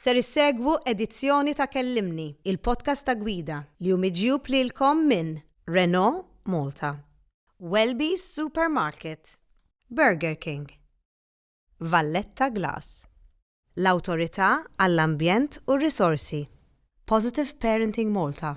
Ser issegwu edizzjoni ta' Kellimni, il-podcast ta' gwida, li hu miġjub lilkom minn Renault Malta, Welby's Supermarket, Burger King, Valletta Glass, l-Awtorità għall-Ambjent u r-Risorsi, Positive Parenting Malta,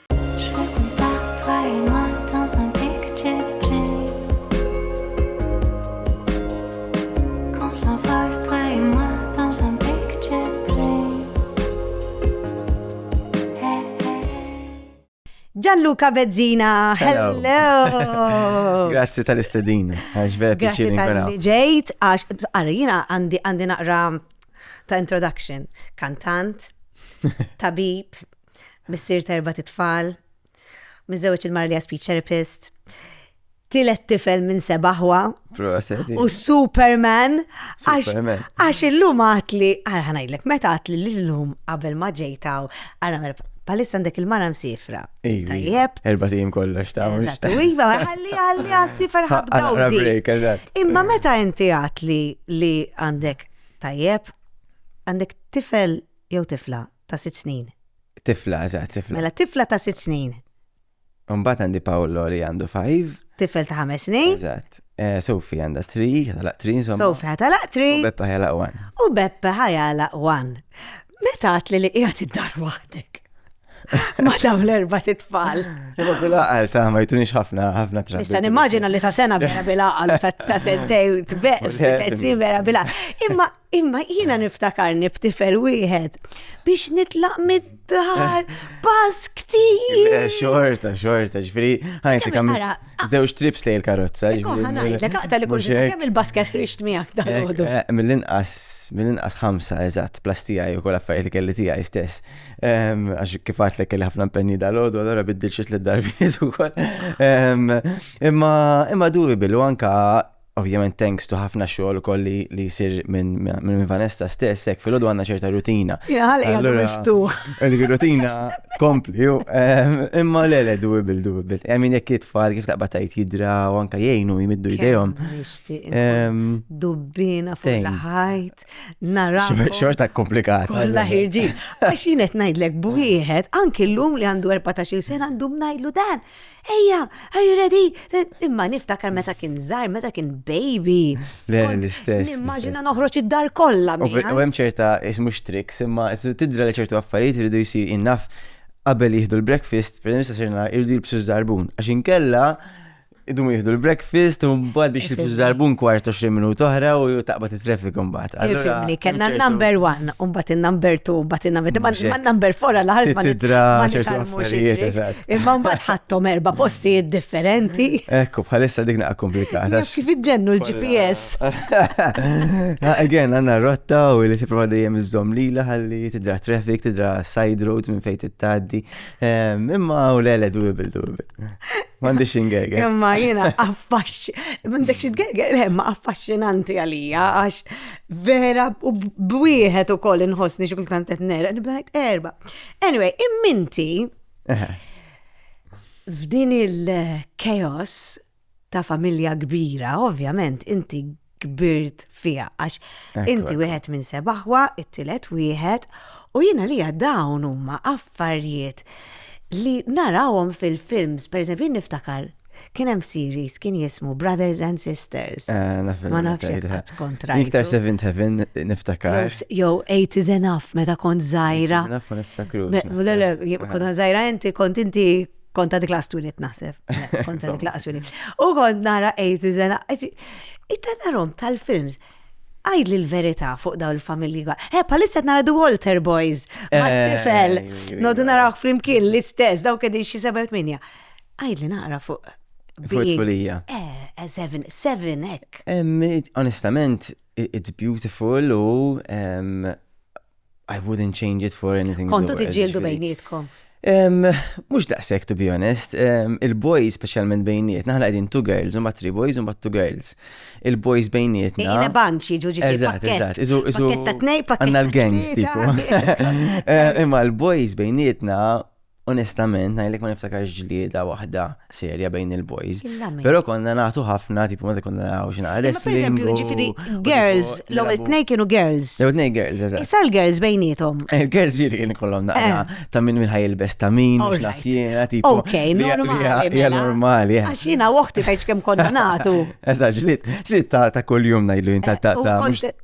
Gianluca Bezzina, hello! hello. Grazzi tal-istedin, għax vera piċir inkuna. Grazzi tal-ġejt, għax għarri jina għandi naqra ta' introduction, kantant, tabib, missier terba titfal, miżewġ il-mar li speech therapist, tilet tifel minn sebaħwa. U Superman. Għax illum għatli, għarħanajlek, meta għatli l-lum qabel ma ġejtaw, għarħanajlek, palissa għandek il-mara msifra. Tajjeb. Erba tim kollox ta' Eżatt, u iva, għalli għalli għassifer ħabda. Imma meta inti għatli li għandek tajjeb, għandek tifel jew tifla ta' sitt snin. Tifla, eżatt, tifla. Mela tifla ta' sitt snin. Mbagħad għandi Paolo li għandu five. Tifel ta' ħames snin. Eżatt. Eh, Sofi għandha tri, ħatalaq tri insomma. Sofi ħatalaq tri. U Beppe ħajalaq one. U Beppe ħajalaq one. Meta għatli li qiegħed id-dar waħdek? Ma dawn l-erba titfal. Imma bil-aqal ta' ma jtunix ħafna ħafna trabi. Issa nimmaġina li ta' sena vera bil-aqal ta' sentej tbeq, vera bil-aqal. Imma Imma jiena niftakarni b'tifel wieħed biex nitlaq mid-dar pass ktir. Eh, xorta, xorta, ġifri, ħajti kam zewġ trips li l-karozza. Ħanajt, għaqta li kull kemm il-basket rixt miegħek dal eh, Mill-inqas, mill-inqas ħamsa, eżatt, plastija u kol affarijiet li kelli tiegħi stess. Ehm, għax kifat li kelli ħafna mpenni dal-għodu, allora biddil xit l-darbiet u kol. Ehm, imma, imma duwi billu anka Ovvjament thanks to ħafna xogħol ukoll li li jsir minn minn Vanessa stess, hekk filgħodu għandna ċerta rutina. Jien ħalqi għadu Allura- miftuħ. Dik ir-rutina tkompli. ju, ehm, Imma le le doable doable. I mean jekk it-tfal kif taqbad tgħid jidra u anke jgħinu jmiddu jdejhom. Kemm nixtieq inkun Ehm, Dubbina fuq Tejn. l-ħajt, xor- narakom. Xorta komplikata. Kolla ħirġin. Għax jien qed ngħidlek b'wieħed, anki llum li għandu 14 sena għandu ngħidlu dan. Ejja, are you ready? Imma niftakar meta kien żgħar, meta kien baby. Le, l-istess. Nimmaġina noħroġ id-dar kollha. U hemm ċerta ismu tricks, imma tidra li ċertu affarijiet iridu jsir innaf qabel jieħdu l-breakfast, per eżempju, sirna irridu jibsu żarbun. Għax inkella idum jihdu l-breakfast u mbagħad biex jibsu żarbun kwart 20 minut oħra u taqbad it-traffic mbagħad. Ifimni, kellna number one, u mbagħad in-number two, mbagħad in-number ma number four għal ħarż ma ċertu affarijiet. Imma mbagħad ħadthom erba' postijiet differenti. Ekku, bħalissa dik naqa' komplikata. Kif iġġennu l-GPS. Again, għandna rotta u li tipprova dejjem iżżomm lila ħalli tidra traffic, tidra side roads minn fejn tittaddi. Ehm, imma u lele doable, doable. Mandi xingerger. Imma jena affaxx, mandek xingerger, le, ma affaxxinanti għalija, għax vera u bwieħed u koll inħosni xukul kantet nera, nibdajt erba. Anyway, imminti, F'din il-chaos ta' familja kbira, ovvjament, inti kbirt fija, għax inti wieħed minn sebaħwa, it-tilet wieħed, u jina li dawn huma affarijiet li narawhom fil-films, per eżempju, niftakar Kien hemm series kien jismu Brothers and Sisters. Ma nafx jekk kontra. Iktar Seventh Heaven niftakar. Jew Eight is Enough meta kont żgħira. Naf ma niftakru. Kont żgħira inti kont inti kont għad klas twinit naħseb. Kont għad klas twinit. U kont nara Eight is Enough. Itta tarom tal-films għajd li l-verita fuq daw il-familji għal. He, palissa nara The Walter Boys, ma' tifel, nodu naraw flimkien l-istess, daw kedi xie 7-8. Għidli naqra fuq. Fuq tfulija. Eh, eh, seven, seven, ek. Onestament, it's beautiful u I wouldn't change it for anything. Kontu tiġġieldu bejnietkom. Mux daqsek, to be honest, il-boys specialment bejniet, naħla għedin two girls, un bat three boys, un bat two girls. Il-boys bejniet. Ina banċi ġuġi Eżat, eżat, izu, izu. Għanna l-gangs, tipo. Imma l-boys bejnietna onestament, ngħidlek ma niftakarx ġlieda waħda serja bejn il-boys. Però konna nagħtu ħafna, tipo meta konna nagħu xi nagħrif. Per eżempju, ġifieri girls, l-ewwel tnej kienu girls. L-ewwel tnej girls, eżatt. Issa l-girls bejnietom. Eh, il-girls ġieli kien kollhom naqra eh. ta' minn minn ħajilbes ta' min, mhux naf jiena, tipo. Ok, normali. Hija mela. normali. Eh. Għax jiena waħti tajċ kemm konna nagħtu. Eżatt, ġlied, ġlied ta' kuljum ngħidlu ta' ta'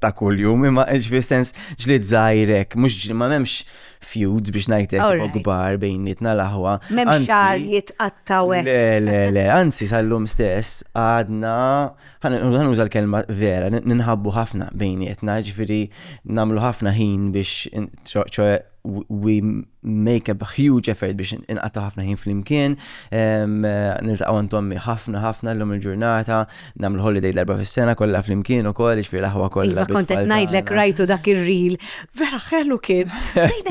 ta' kuljum, imma ġifieri sens ġlied żgħirek, mhux ma m'hemmx feuds biex ngħidlek All tipo right. kbar bejnietna l-aħwa. Mem Anzi- xar jitqattaw hekk. Le, le, le, anzi sal-lum stess għadna, ħanuża l-kelma vera, n- ninħabbu ħafna bejnietna, ġifiri namlu ħafna ħin biex, in- ċo- ċoe, w- we make a huge effort biex inqatta ħafna ħin fl-imkien, niltaqgħu għand ommi ħafna ħafna l-lum il-ġurnata, Nagħmlu holiday darba fis-sena kollha flimkien ukoll, jiġifieri l-aħwa kollha. Iva kont qed ngħidlek rajtu dak ir-ril. Vera ħelu kien.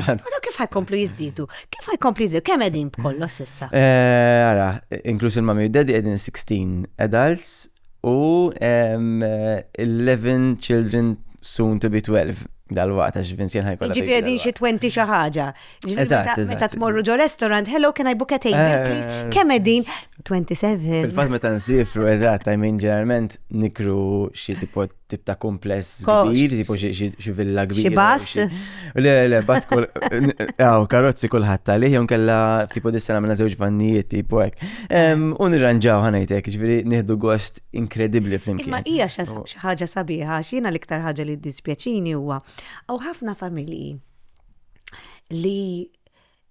Għadu kif ħajkomplu jiżdiedu? Kif ħajkomplu jiżdiedu? Kemm qegħdin b'kollox s'issa? Eh, ara, inkluż il-mami u daddy qegħdin 16 adults u 11 children soon to be 12 dal-waqt għax Vincent ħajkolla. Ġifieri qegħdin xi 20 xi ħaġa. Ġifieri meta tmorru ġo restaurant, hello, can I book a table, eh. please? Kemm qegħdin? 27. Fil-fatt meta nsifru, eżatt, I mean ġeneralment nikru xi tipo tip ta' kumpless kbir, tipo xi villa kbir. Xi bass. Le, le, bat kull. Aw, karozzi kulħadd għalih, jew kella tipo dissena minna żewġ vannijiet, tipo hekk. U nirranġaw ħanajtek, ġifieri nieħdu gost inkredibbli flimkien. Ma hija xi ħaġa sabiħa, x'jiena l-iktar ħaġa li dispjaċini huwa. Aw ħafna familji li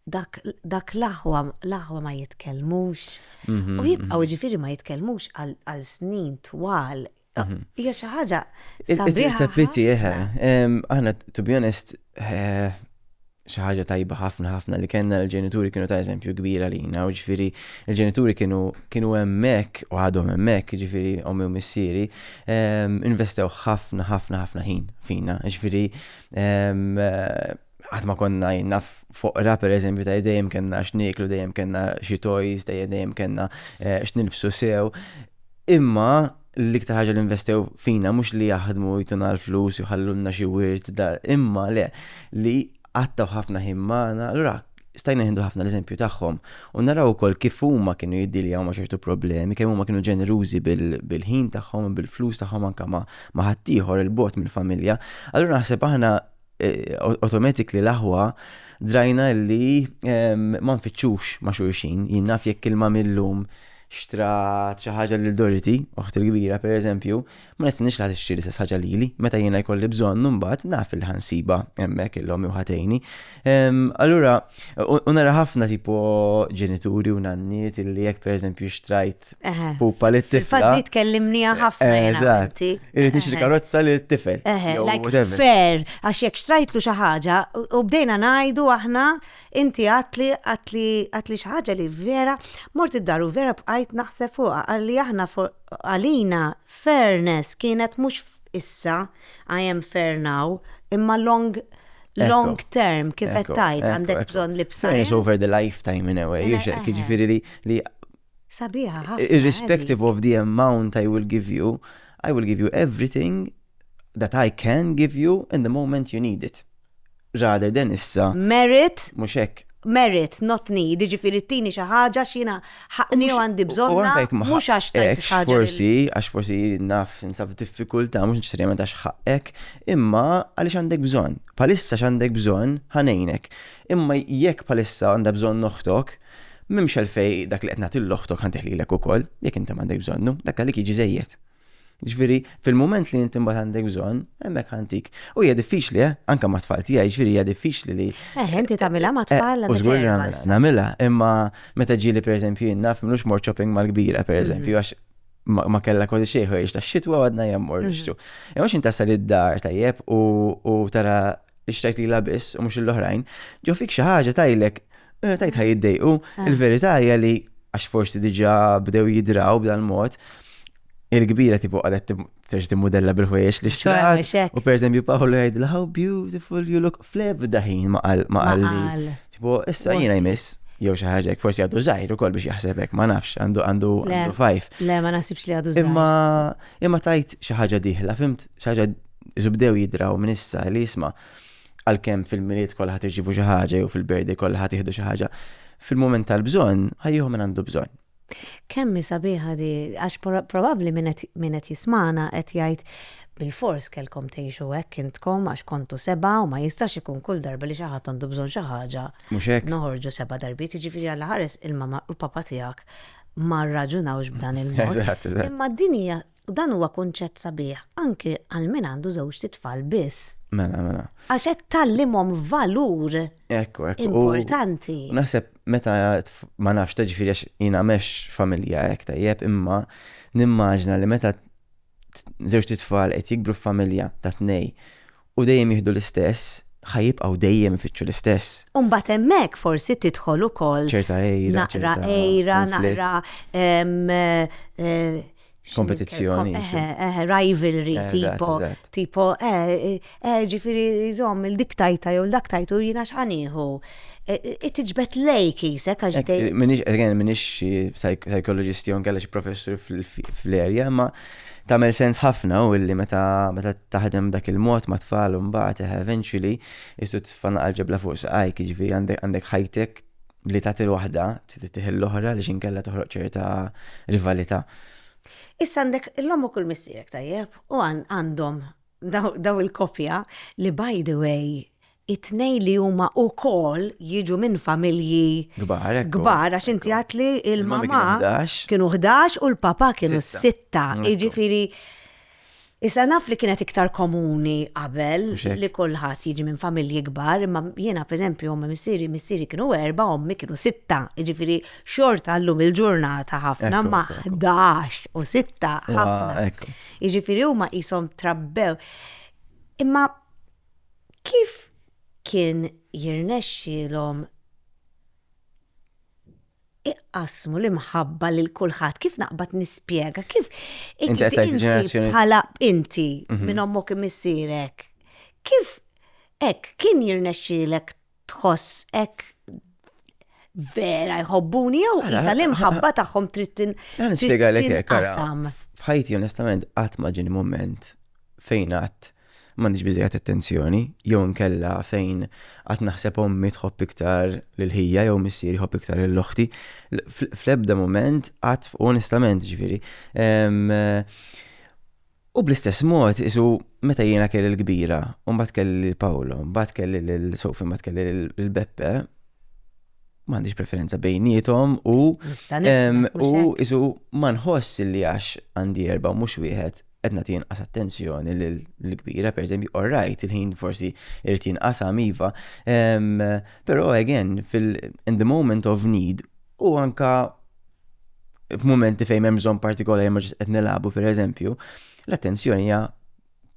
dak, dak l-aħwa, l-aħwa ma jitkellmux. Mhm, U jibqaw mhm. ġifiri ma jitkellmux għal għal snin twal. Mhm. Hija xi ħaġa It's sabiħa. a pity, eh. ħafna. Em, Aħna, to be honest, eh, xi ħaġa tajba ħafna ħafna li kellna l-ġenituri kienu ta' eżempju kbira lina, u ġifieri l-ġenituri kienu kienu hemmhekk u għadhom hemmhekk, ġifieri ommi u missieri, em, investew ħafna ħafna ħafna ħin fina, ġifieri Qatt ma konna jenna foqra, per eżempju, ta' dejjem kena x'niklu, dejjem kena xi toys, dejjem kena eh, x'nilbsu sew. Imma l-iktar ħaġa li investew fina mhux li jaħdmu jtuna l-flus jħallulna xi wirt, imma le li għattaw ħafna ħimmana, l-rak stajna nieħdu ħafna l-eżempju tagħhom u naraw ukoll kif huma kienu jiddiljaw ma' ċertu problemi, kemm huma kienu ġenerużi bil-ħin tagħhom, bil-flus tagħhom anke ma' ħaddieħor il-bot mill-familja. Allura naħseb aħna eh, automatic li l-aħwa drajna li ehm, ma nfittxux ma' xulxin, jinnaf jekk il-mamillum xtrat xi ħaġa lil Dorothy, oħt il-kbira pereżempju, Ma nistenniex li ħadd ixtri l-istess ħaġa lili. Meta jiena jkolli bżonn, imbagħad naf li ħansibha hemmhekk il-omm jew ħatejni. Ehm, allura, u nara ħafna tipo ġenituri u nanniet illi jekk pereżempju xtrajt pupa li tifel. Faddi tkellimni ħafna. Eh, eżatt. Irid nixtri eh. karozza li tifel. Eh, fair, għax jekk xtrajtlu xi ħaġa u bdejna ngħidu aħna inti għatli għatli għatli xi ħaġa li vera mort id-daru vera bqajt naħseb fuqha għalli aħna Għalina, fairness kienet mhux f'issa, I am fair now, imma long long term kif qed tgħid għandek bżonn libsa. Fairness over the lifetime in a way, mela, jiex hekk, jiġifieri li li Sabiħa ħafna. Irrespective of the amount I will give you, I will give you everything that I can give you in the moment you need it. rather than issa. Merit. Mhux hekk. Merit, not need, jiġifieri tini xi ħaġa għax jiena ħaqqni u għandi bżonnha, mhux għax tajt xi ħaġa. Forsi, għax forsi naf ninsab f'diffikultà mhux neċessarjament għax ħaqqek, imma għaliex għandek bżonn. Bħalissa x'għandek bżonn ħa ngħinek. Imma jekk bħalissa għandha bżonn oħtok, m'hemmx għalfejn dak li qed nagħti 'l oħtok ħa ntih lilek ukoll, jekk inti m'għandek bżonnu, dak għalik jiġi żejjed. Ġifieri, fil-mument li inti mbagħad għandek bżonn, hemmhekk ħantik. U hija diffiċli, eh? anke ma' tfal tiegħi, ġifieri hija diffiċli li. Eh, inti tagħmilha ma' eh, tfal. U żgur nagħmilha, imma meta ġieli pereżempju jien naf minux mort shopping mal-kbira pereżempju mhm. għax ma kella kważi xejħu jiex ta' xitwa għadna jemmur mhm. nixtu. Imma xin tasal id-dar tajjeb u tara biex tajt li labis u mux l-oħrajn, ġo fik xaħġa tajlek, eh, tajt ħaj jiddejqu, ah. il-verita hija li għax forsi diġa bdew jidraw b'dan mod, il-kbira tipo għadet t-serġ t-modella bil-ħwejx li xtaqt. U per eżempju Paolo jgħidla, how beautiful you look, fleb daħin ma għalli. Tipo, issa jina jmiss, jew xi ħaġa forsi għadu żgħir ukoll biex jaħsebek, ma nafx għandu għandu għandu fajf. Le, ma nasibx li għadu żgħir. Imma imma tajt xi ħaġa diħla, fimt? Xi ħaġa Isu bdew jidraw minn issa li jisma' għalkemm fil-Milied kollha ħadd irċievu xi ħaġa jew fil-Birthday kollha ħadd jieħdu xi ħaġa, fil-mument tal-bżonn ħa jieħu min għandu bżonn. Kemm hi sabiħa di, għax probabbli min qed min qed jismagħna qed jgħid, Bilfors kellkom tgħixu hekk intkom għax kontu sebgħa u ma jistax ikun kull darba li xi ħadd għandu bżonn xi ħaġa. Mhux hekk? Noħorġu sebgħa darbiet, jiġifieri alla ħares il-mama u l-papa tiegħek ma rraġunawx b'dan il-mod. Eżatt, eżatt. Imma din hija U dan huwa kunċett sabiħ anki għal min għandu żewġt itfal biss. Mela, mela. Għax qed tgħallimhom valur Ekku, ekku. importanti. U naħseb meta tf- ma nafx ta' ġifieri għax jiena mex familja hekk tajjeb, imma nimmaġna li meta t- żewġt itfal qed jikbru f'familja ta' tnej U dejjem jieħdu l-istess, ħa jibqgħu dejjem ifittxu l-istess. U mbagħad hemmhekk forsi tidħol ukoll. Ċerta għira. Naqra għira, naqra. Eh, Kompetizzjoni. Eh, rivalry, tipo, tipo, eh, eh, ġifiri, zom, il-dik tajta jew l-dak tajtu jina xħaniħu. Itġbet lej kisek għax dej. Minix, again, minix psychologist jon kalla xie professor fl-erja, ma Tagħmel sens ħafna u illi meta meta taħdem b'dak il-mod ma' tfal u mbagħad eh, eventually istu tfanna għal-ġebla fuq saqajk, jiġifieri għandek għandek ħajtek li tagħti l-waħda trid tiħil l-oħra li xinkella toħroq ċerta rivalità. Issa għandek l-ommok u l-missierek tajjeb u għan- għandhom daw, daw il-kopja li by the way it-tnejn li huma wkoll jiġu minn familji Kbar, ekku. kbar għax inti għedt li Il-mami l-mama kienu 11. kienu 11 u l-papa kienu Sitta. sitta. Ekku. Jiġifieri issa naf li kienet iktar komuni qabel Mhux hekk? li kulħadd jiġi minn familji kbar, imma jiena pereżempju ommi missieri, missieri kienu erbgħa, ommi kienu sitta. Jiġifieri xorta llum il-ġurnata ħafna Ekku, ma ekku, ekku. 11 u sitta Wa, ħafna. ekku. Jiġifieri huma qishom trabbew. Imma Kif kien jirnexxielhom iqassmu l-imħabba lil kulħadd? Kif naqbad nispjega? Kif inti bħala inti mhm. minn ommok imissierek? Kif hekk kien jirnexxielek tħoss hekk vera jħobbuni jew isa l-imħabba tagħhom trid tinqasam. F'ħajti onestament qatt ma ġieni mument fejn qatt m'għandix biżejjed attenzjoni jew nkella fejn qatt naħseb ommi tħobb iktar lil ħija jew missier jħobb iktar lil oħti. Fl-ebda mument qatt onestament ġifieri. U bl-istess mod, isu meta jiena kelli l-kbira, u mbagħad kelli lil Paolo, mbagħad kelli lil Sofi, mbagħad kelli lil Beppe, m'għandix preferenza bejnietom u u isu ma nħoss li għax għandi erba' mhux wieħed qed nagħti inqas attenzjoni lill-kbira, pereżempju, all right, il-ħin forsi irid jinqasam iva, però again, in the moment of need, u anka f'mumenti fejn hemm bżonn partikolari ma qed nilagħbu pereżempju, l-attenzjoni hija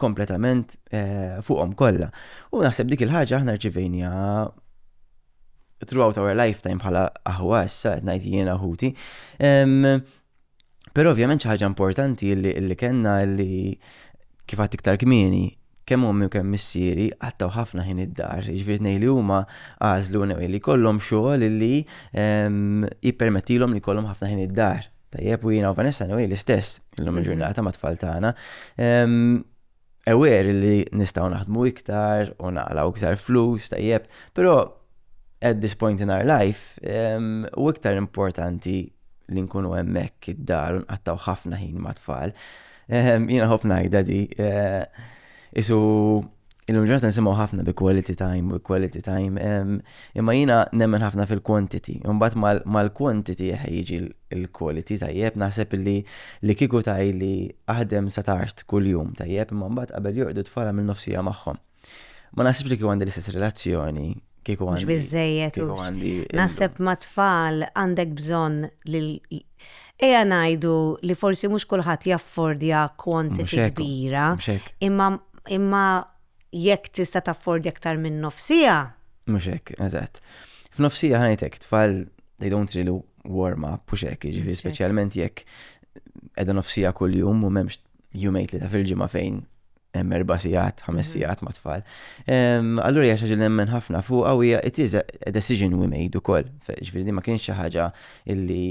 kompletament eh, fuqhom kollha. U naħseb dik il-ħaġa aħna rċivejnija throughout our lifetime bħala aħwa issa qed ngħid jiena ħuti. Però ovvjament xi ħaġa importanti li kellna li kif għad iktar kmieni kemm ommi u kemm missieri qattgħu ħafna ħin id-dar, jiġifieri ngħid li huma għażlu anyway li jkollhom xogħol illi ehm, jippermettilhom li jkollhom ħafna ħin id-dar. Tajjeb u jiena u Vanessa anyway l-istess illum mhm. il-ġurnata ma' tfal tagħna. Ehm, Ewer li nistgħu naħdmu iktar u naqlaw iktar flus tajjeb, però at this point in our life ehm, u iktar importanti li nkunu hemmhekk id-dar u nqattaw ħafna ħin ma' tfal. Ehm, jiena ħobb ngħidha di. Eh, isu illum ġurnata nisimgħu ħafna bi quality time, bi quality time. Ehm, imma jiena nemmen ħafna fil-quantity. Imbagħad mal-quantity jiġi l-quality tajjeb, naħseb li li kieku tajli aħdem sa tard kuljum tajjeb, imma mbagħad qabel jorqdu tfara minn nofsija magħhom. Ma naħsibx li kieku għandi l-istess relazzjoni kieku għandi. Bizzejet. Kieku għandi. Naħseb ma tfal għandek bżon li Eja najdu li forsi mux kullħat jaffordja kwantiti kbira, imma imma jekk tista taffordja aktar minn nofsija. Mux hekk, eżatt. F'nofsija ħanajtek tfal they don't really warm up, u xek, ġifiri specialment jekk edha nofsija kull-jum u memx jumejt li ta' fil-ġimma fejn hemm erba' sigħat, ħames mhm. sigħat ma' tfal. Allura hija xi nemmen ħafna fuqha u hija it is a decision we made ukoll. Ġifieri ma kienx xi ħaġa illi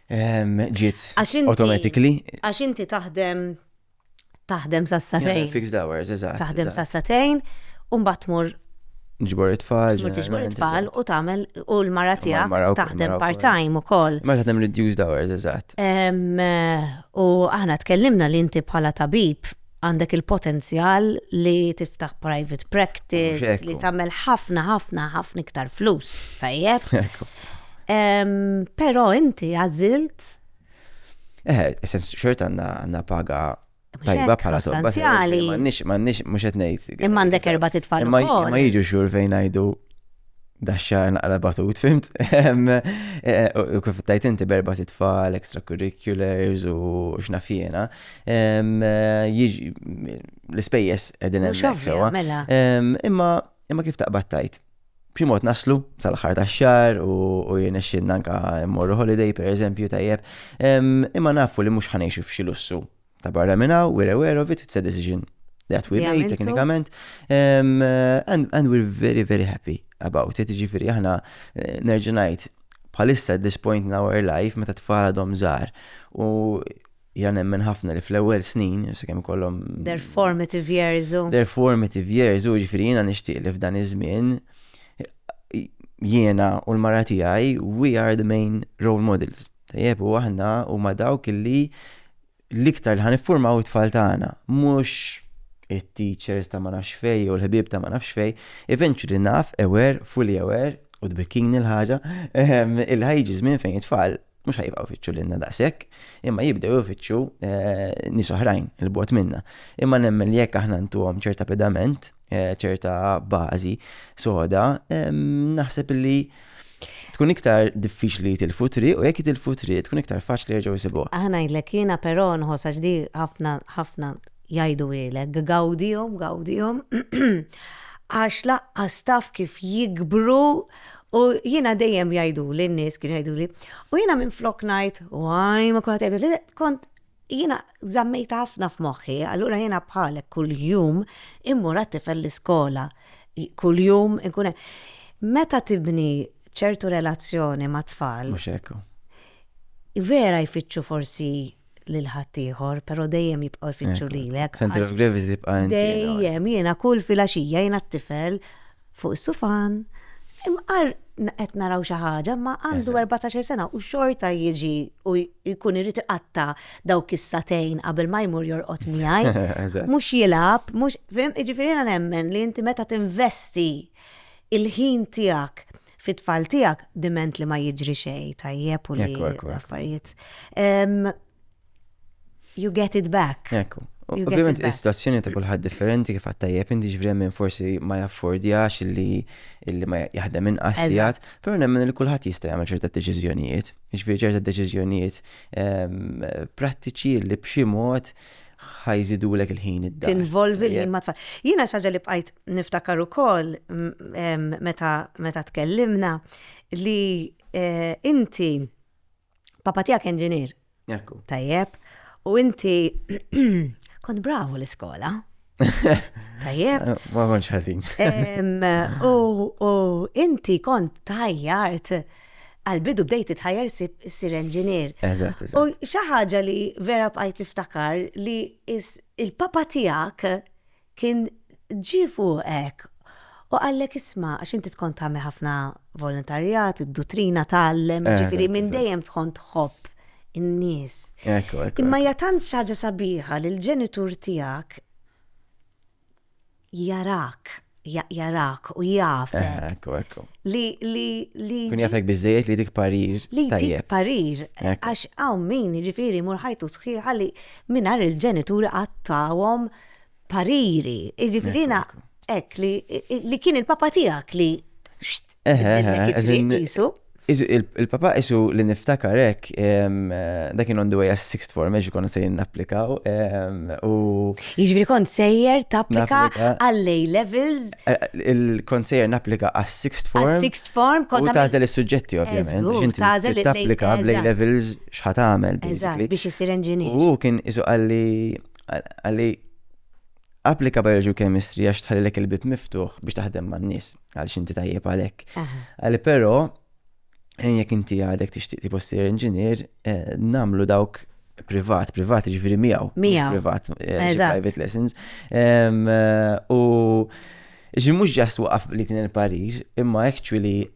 ġiet automatically. Għax inti taħdem taħdem sassatejn. Fixed hours, eżatt. Taħdem sassatejn u mbagħad tmur ġbor it-tfal. Ġbor it-tfal u tagħmel u l-mara tiegħek taħdem part-time ukoll. Ma taħdem reduced hours, eżatt. Eh, U aħna tkellimna li inti bħala tabib għandek il-potenzjal li tiftaħ private practice, li tagħmel ħafna ħafna ħafna iktar flus, tajjeb. Però inti għażilt. Eh, sens xort għandna paga tajba bħala sostanzjali. Mannix, mannix, mux etnejt. Imma għandek erba titfall. Imma jiġu xur fejn għajdu daxxar naqra batut, fimt? U kif tajt inti berba titfall, extracurriculars u xnafjena, l-spejjes edin emmek sewa. Mela. Imma imma kif taqbad tajt? B'ximot naslu sal-ħar ta' xar u jenexxin nanka morru holiday per eżempju tajjeb, imma nafu li mux ħanejxu f'xi lussu Ta' barra minn hawn, we're aware of it, it's a decision that we made teknikament. Um, and, and we're very, very happy about it. Ġifiri, aħna eh, nerġinajt bħalissa at this point in our life meta tfara dom zar. U jgħan nemmen ħafna li fl-ewel snin, jus kem kollom. Their formative years. Their formative years, u ġifiri jina nishtiq li f'dan iż-żmien jiena u l-mara tiegħi we are the main role models Tajjeb, u aħna huma dawk illi l-iktar li ħaniffurmaw it-tfal tagħna, mhux it-teachers ta' ma nafx fej jew l-ħbieb ta' ma nafx fej, eventually naf aware, fully aware, u tbikkini l-ħaġa, ehm, il ħajġi żmien fejn it-tfal mhux ħajbqgħu jfittxu lilna daqshekk, imma jibdew ifittxu eh, nies oħrajn il-bot minna. Imma nemmen li jekk aħna ntuhom ċerta pedament, eh, ċerta bażi soda, naħseb li tkun iktar diffiċli til-futri u jekk il-futri tkun iktar faċli jerġgħu jsibuha. Aħna ngħidlek jiena però nħoss għax di ħafna ħafna jgħidu ilek gawdihom gawdihom għax laqqas taf kif jikbru u jiena dejjem jgħidu li n-nies kienu jgħidu li u jiena minn flok ngħid waj ma kulħadd jgħidu li kont Jiena żammejtha ħafna f'moħħi, allura jiena bħalek kuljum immur għat-tifel l-iskola, kuljum inkun hemm. Meta tibni ċertu relazzjoni mat-tfal. Mhux hekk hu. Vera jfittxu forsi lil ħaddieħor, però dejjem jibqgħu jfittxu lilek. Center of gravity tibqa' inti. Dejjem, jiena kull filgħaxija jiena t-tifel. fuq is-sufan, imqar qed naraw xi ħaġa, ma għandu 14 sena u xorta jiġi u jkun irid iqatta dawk is-satejn qabel ma jmur jorqod miegħi. Mhux jilgħab, mhux fim, jiġifieri jiena nemmen li inti meta tinvesti il-ħin tiegħek fit-tfal tiegħek diment li ma jiġri xejn tajjeb u li affarijiet. You get it back. Ekku. Ovvijament, il-situazzjoni ta' kullħad differenti kif għattajjeb, inti ġvrem minn forsi ma jaffordjax li illi ma jaħdem minn qassijat, pero nemmen li kullħad jista' jagħmel ċerta deċiżjonijiet, ġifieri ċerta deċiżjonijiet ehm, prattiċi li b'xi mod ħajżidulek il-ħin id-dar. Tinvolvi l-ħin ma tfal. Jiena xaġa li bqajt niftakar ukoll meta tkellimna li eh, inti Papa tiegħek inġinier. Ekku. Tajjeb. U inti kont bravu l-iskola. Tajjeb. Ma konċ ħażin. U inti kont tajjart għal-bidu bdejt tħajjar sir enġinier. Eżatt, eżatt. U xaħġa li vera bqajt niftakar li il-papa tijak Kien ġie fuqek u qallek isma' għax inti tkont tagħmel ħafna volontarjat, id-duttrina tgħallem, jiġifieri minn dejjem tkun tħobb in-nies. Imma hija tant xi ħaġa sabiħa li l-ġenitur tiegħek jarak, jarak u jafek. Li, li, li. Kun jafek biżejjed li dik parir. Li dik parir. Għax hawn min jiġifieri mur ħajtu sħiħa li mingħajr il-ġenituri qattawhom pariri, jiġifieri jiena hekk li kien il-papa tiegħek li jisu. Il-papa isu li niftakar hekk dak kien on the way għas sixth form għax konna sejrin napplikaw. Jiġifieri kont sejjer tapplika għall-A levels. Eh, il-kont sejjer napplika għas sixth form. Għas sixth form kont. U tażel is-suġġetti ovvjament. Tażel tapplika bl-A levels x'ħat għamel. Biex isir engineer. U kien isu għalli Għalli applika biology u chemistry għax tħallilek il-bib miftuħ biex taħdem man nies għal xinti tajjeb għalek. Għalli pero, eh, jek inti għadek tixtieq tipo sir inġinier, eh, namlu dawk privat, privat ġviri miegħu. Miegħu. Privat, eh, private lessons. U ġi mux ġas waqaf li tin il-parir, imma actually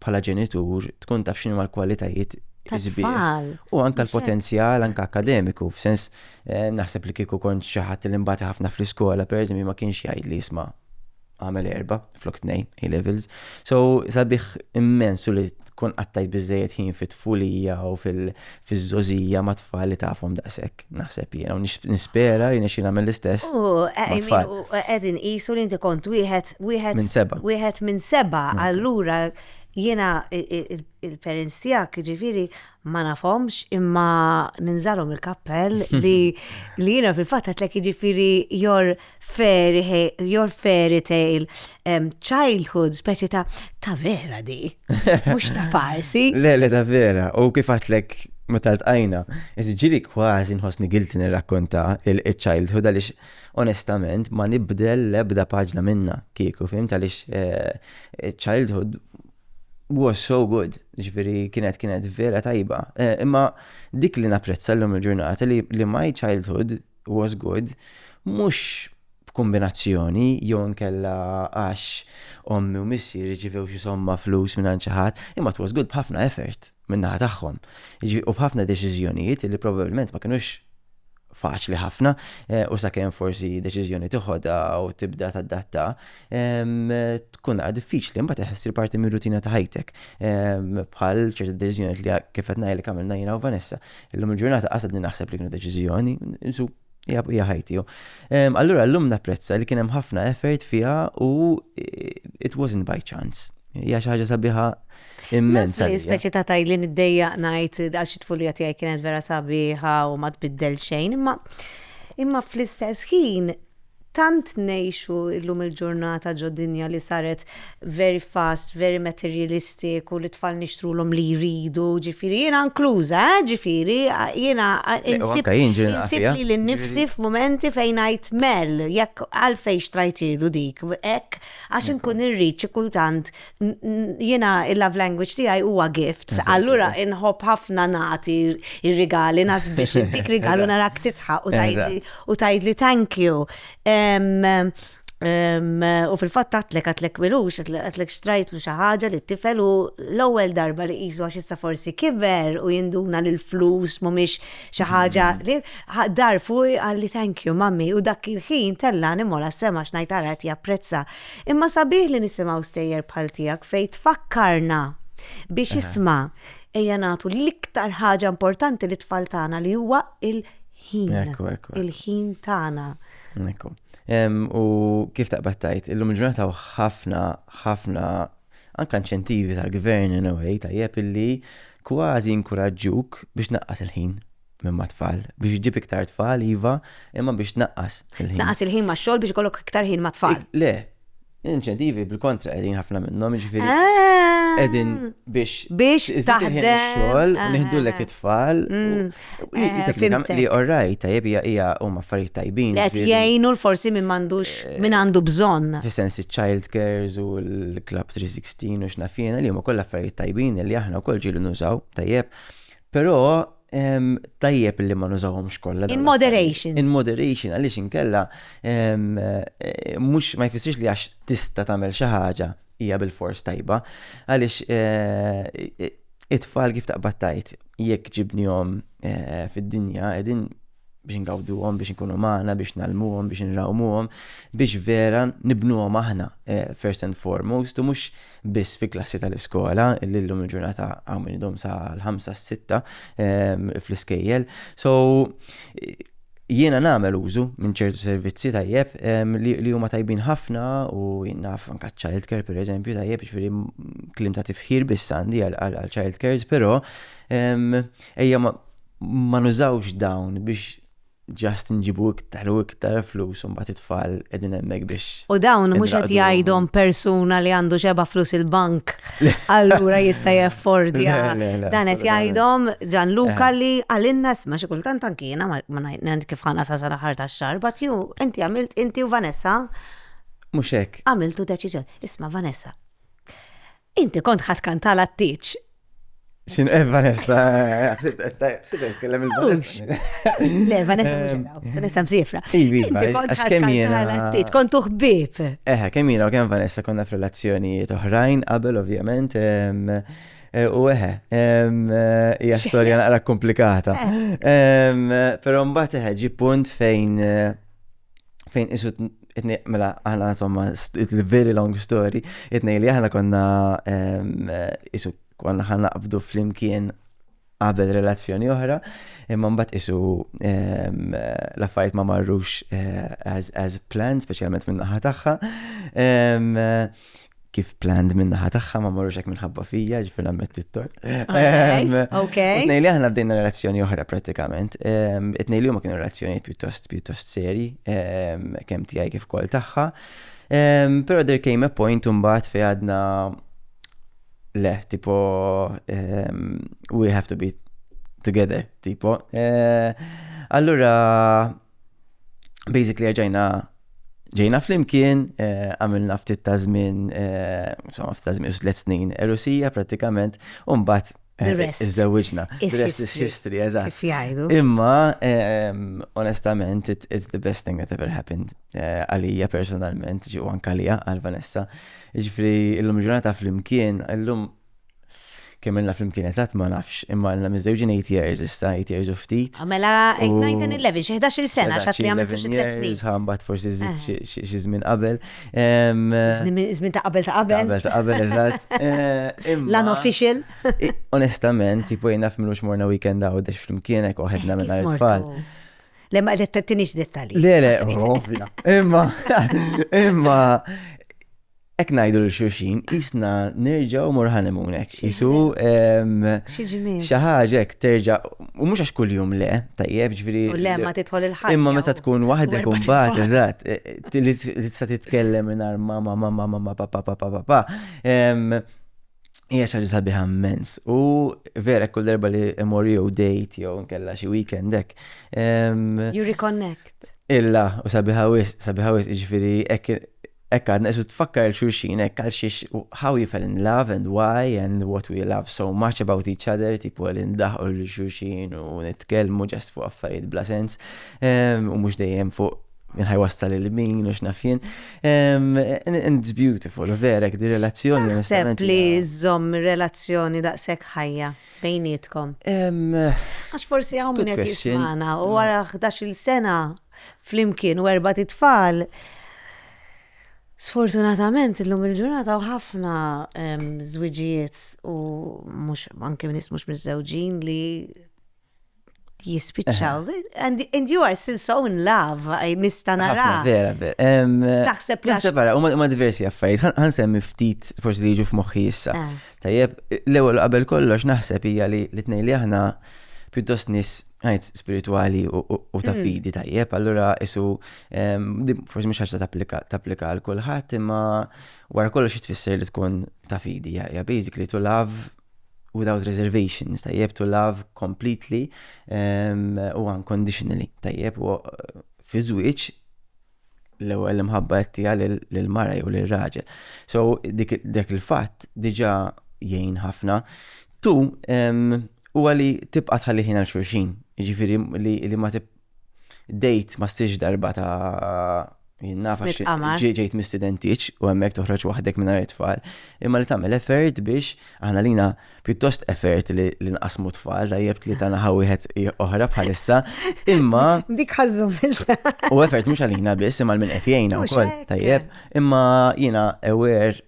bħala ġenitur tkun taf x'inhu l-kwalitajiet Tfal. U anka l-potenzjal, anka akademiku, f'sens eh, naħseb li kieku kont xi ħadd li mbagħad ħafna fl-iskola, pereżempju ma kienx jgħid li jisma' għamel erba' flok tnejn A levels. So sabiħ immensu li tkun qattajt biżejjed ħin fit-tfulija u fiżżożija mat-tfal li tafhom daqshekk, naħseb jiena, u nispera li jirnexxi nagħmel l-istess. U qed inqisu li inti kont wieħed wieħed minn seba'. Wieħed minn seba', allura jiena il-parents tiegħek ġifieri ma nafhomx imma ninżalhom il-kappell li jiena fil-fatt għedlek jiġifieri your Fairy hale, your fairy tale, um, childhood, speċi ta' ta' vera di, mux ta' farsi. le, le, ta' vera, u kif għatlek ma tal-tqajna, ġili kważi nħosni gilti nirrakkonta il-childhood għalix onestament ma nibdel lebda paġna minna kieku, fim għalix eh, childhood was so good, ġviri kienet kienet vera tajba. Eh, imma dik li naprezza l-lum il-ġurnata li my childhood was good, mhux b'kumbinazzjoni jew inkella għax ommi u missier irċivew xi somma flus mingħand xi ħadd, imma it was good b'ħafna effort min-naħa tagħhom. Jiġifieri u b'ħafna deċiżjonijiet li probabbilment ma kinux faċli ħafna u sakemm forsi deċiżjoni tiħodha u tibda tadatta tkun naqra diffiċli imbagħad iħess il-parti mir-rutina ta' ħajtek bħal ċerti deċiżjonijiet li kif qed ngħidlek għamilna jiena u Vanessa Illum il-ġurnata qasadni naħseb li kienu deċiżjoni, insu hija ħajti. Ehm, allura llum napprezza li kien hemm ħafna effort fiha u eh, it wasn't by chance. Hija xi ħaġa sabiħa immensa. Speċi ta' tajli niddejja ngħid għax it-tfulija tiegħi kienet vera sabiħa u ma tbiddel xejn, imma imma fl-istess ħin Tant ngħixu llum il-ġurnata ġo dinja li saret very fast, very materialistic u lit-tfal nixtrulhom li jridu, ġifieri jiena inkluża, eh, ġifieri jiena insib lili nnifsi f'mumenti fejn ngħid mell, jekk għalfejn xtrajthielu dik hekk għax inkun irrid xi kultant, jina il-love language tijaj huwa gifts, allura inħob ħafna nati il-rigali, nas biex dik rigalu narak titħa u tajd li thank you. U fil-fat tatlek għatlek milux, għatlek xtrajtlu xaħġa li t-tifel u l-ewel darba li jizu għax issa forsi kiber u jinduna li l-flus mumiex xaħġa mm. li dar fuj għalli thank you mammi u dak il-ħin tella nimola sema xnajtara għet japprezza Imma sabiħ li nisimgħu stejjer bħal tiegħek fejn tfakkarna biex isma' ejja nagħtu l-iktar ħaġa importanti li tfal tagħna li huwa il-ħin. Il-ħin tagħna. Ekku. U kif taqbad tajt, illum il-ġurnata ħafna ħafna anka inċentivi tal-gvern in a way tajjeb illi kważi inkuraġġuk biex naqqas il-ħin minn ma' tfal. Biex iġib iktar tfal, iva, imma biex tnaqqas il-ħin. Tnaqqas il-ħin ma' xogħol biex ikollok iktar ħin ma' tfal. Le, inċentivi bil-kontra qegħdin ħafna minnhom, jiġifieri ah! qegħdin biex biex taħdem xogħol ah, nieħdu lek ah, it-tfal. Mm. Eh, li orrajt tajjeb hija hija huma affarijiet tajbin. Qed jgħinu l-forsi minn m'għandux eh, minn għandu bżonn. Fis-sens iċ-child cares u l-club 316 u x'nafina li huma kollha affarijiet tajbin li aħna wkoll ġielu nużaw tajjeb. Però tajjeb li ma nużawhomx kollha. In moderation. In moderation għaliex inkella mhux ma jfissirx li għax tista' tagħmel xi ħaġa hija bil-fors tajba għaliex eh, it-tfal kif taqbad tajt jekk ġibnihom eh, fid-dinja qegħdin biex ngawduhom, biex nkunu magħna, biex nalmuhom, biex nrawmuhom, biex vera nibnuhom aħna eh, first and foremost, u mhux biss fi klassi tal-iskola, li llum il-ġurnata hawn min idhom sa l-ħamsa s-sitta eh, fl-iskejjel. So jiena nagħmel użu minn ċertu servizzi tajjeb li huma tajbin ħafna u jinnaf anka child care per eżempju tajjeb ġifieri klim ta' tifħir biss għandi għal child cares però ejja ma nużawx dawn biex ġast nġibu iktar u iktar flus un bat it-tfal edin emmek biex. U dawn mux għet jgħidhom persuna li għandu xeba flus il-bank, allura jista jaffordja. Dan għet jgħidhom ġan Luka eh. li għalinna sma xikultant tankina, ma najt kif ħana sa sala ħarta xar, bat ju, inti għamilt, inti u Vanessa. Muxek. Għamiltu deċizjon. Isma Vanessa, Inti kont ħat kantal għat-tieċ. Xin, eh, Vanessa, eh, xsib eh, kellem il-Vanessa. Le, Vanessa, Vanessa msifra. Ivi, għax kem jena. Kont uħbib. Eħe, kem jena u kem Vanessa konna f'relazzjoni toħrajn, qabel ovvjament. U eħe, hija storja naqra komplikata. Pero mbagħad eħe ġi punt fejn fejn isu itnej, mela, aħna insomma, il-very long story, itnej li aħna konna isu konna ħan naqbdu fl-imkien qabel relazzjoni oħra, imma mbagħad isu l-affarijiet ma marrux eh, as, as planned, speċjalment minn naħa tagħha. kif planned minn naħa tagħha ma marrux hekk minħabba fija, ġifier nammetti t-tort. Okej. Tnejli aħna bdejna relazzjoni oħra pratikament. It-tnejli huma kienu relazzjoni pjuttost pjuttost seri, kemm tiegħi kif kol tagħha. Però there came a point imbagħad fejn għadna le, tipo we have to be together, tipo. Allura basically ġejna ġejna flimkien, eh, għamilna ftit ta' żmien, eh, insomma ftit ta' żmien tliet snin erusija pratikament, u mbagħad eh, iżżewġna. Rest is history, eżatt. Imma ehm, onestament it's the best thing that ever happened eh, għalija personalment, ġew anke għalija għal Vanessa. Ġifri illum ġurnata flimkien, illum Kemm ilna flimkien eżatt ma nafx, imma ilna miżżewġin 8 years issa, 8 years u ftit. Ah, mela 8, 9, 10, 11, xi 11-il sena Eżatt, x'għad xi li għamiltu 11 xi tliet snin. years, ħa mbagħad forsi żidt Eħe. xi- xi xi żmien qabel. Em, Żmien żmien ta' qabel ta' qabel. Qabel ta' qabel eżatt. Eh, imma- L-unofficial. I- Onestament, tipo jien naf minux morna weekend għawdex flimkien hekk waħedna minn Kif tfal. mortu? Le ma qed tinix dettalji. Le, le, ovvja. Imma, imma, Ek najdu l xurxin jisna nerġaw mor honeymoon ek. Jisu xaħġa ek terġa u mux għax kull jum le, tajjeb ġviri. U le ma titħol il ħaj Imma meta tkun wahda kun bat, eżat, li tista titkellem minar mama, mama, mama, papa, papa, papa. Hija xi ħaġa sabiħa immens u vera kull darba li imorri jew date jew nkella xi weekend hekk. You reconnect. Illa u sabiħa wis, sabiħa wis, jiġifieri hekk għadna isu tfakkar il-xulxin hekk għal xiex how you fell in love and why and what we love so much about each other tipu għal indaħqu l-xulxin u nitkellmu ġast fuq affarijiet bla sens u mhux dejjem fuq Min ħajwassal il-min, u x'naf jien. And it's beautiful, verek, di relazzjoni. Naħseb li żomm relazzjoni daqshekk ħajja bejnietkom. Għax forsi hawn min qed jismana u wara 11-il sena flimkien u erba' titfal. Sfortunatament illum il-ġurnata u ħafna żwiġijiet u mhux anke nies mhux miżżewġin li jispiċċaw. And, and you are still so in love, nista nara. Vera, vera. Taħseb li. Taħseb għara, ma diversi affarijiet. Għan semmi ftit, forsi li ġu f'moħħi issa. Ah. Tajjeb, l-ewel qabel kollox naħseb hija li l-tnej li aħna pjuttost nis għajt spirituali u ta' hmm. fidi tajjeb, allura isu forsi mhux ħaġa tapplika għal kulħadd imma wara kollox tfisser li tkun ta' fidi, ja basically to love without reservations, tajjeb, to love completely u unconditionally, tajjeb, u fi żwieġ l-ewwel imħabba qed tiegħi lill-mara jew lir-raġel. So dik il-fatt diġà jgħin ħafna. Tu huwa li tibqa' tħalli ħin għal xulxin, jiġifieri li ma Dejt ma stiex darba ta' jien naf għax Mitqamar. ġej- ġejt mistidentiċ u hemmhekk toħroġ waħdek mingħajr it-tfal, imma li tagħmel effort biex aħna lina pjuttost effort li li nqassmu t-tfal, tajjeb li ta' naħa wieħed i- oħra bħalissa, imma Dik ħażżumilta. u effort mhux għalina biss imma għal min qed jgħinna Mhux wkoll, hekk. tajjeb, imma jiena aware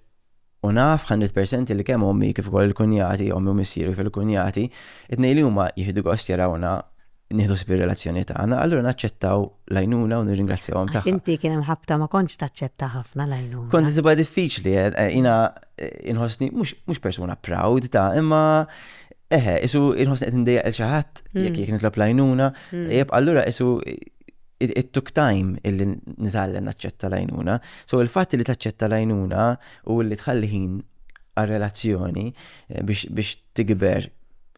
U naf hundred percent li kemm ommi kif ukoll il-kunjati, ommi u missieri kif il-kunjati, it-tnejn li huma jieħdu gost jarawna nieħdu ħsieb ir-relazzjoni tagħna, allura naċċettaw l-għajnuna u nirringrazzjahom tagħha. Għax inti kien hemm ħabta ma kontx taċċetta ħafna l-għajnuna. Kont insibha diffiċli, jiena inħossni mhux persuna proud ta' imma eħe, isu inħossni qed indejjaq il xi ħadd jekk jekk nitlob l-għajnuna, tajjeb allura isu it took time illi nitgħallem naċċetta l-għajnuna. So il-fatt li taċċetta l-għajnuna u li tħalli ħin għal-relazzjoni eh, biex tikber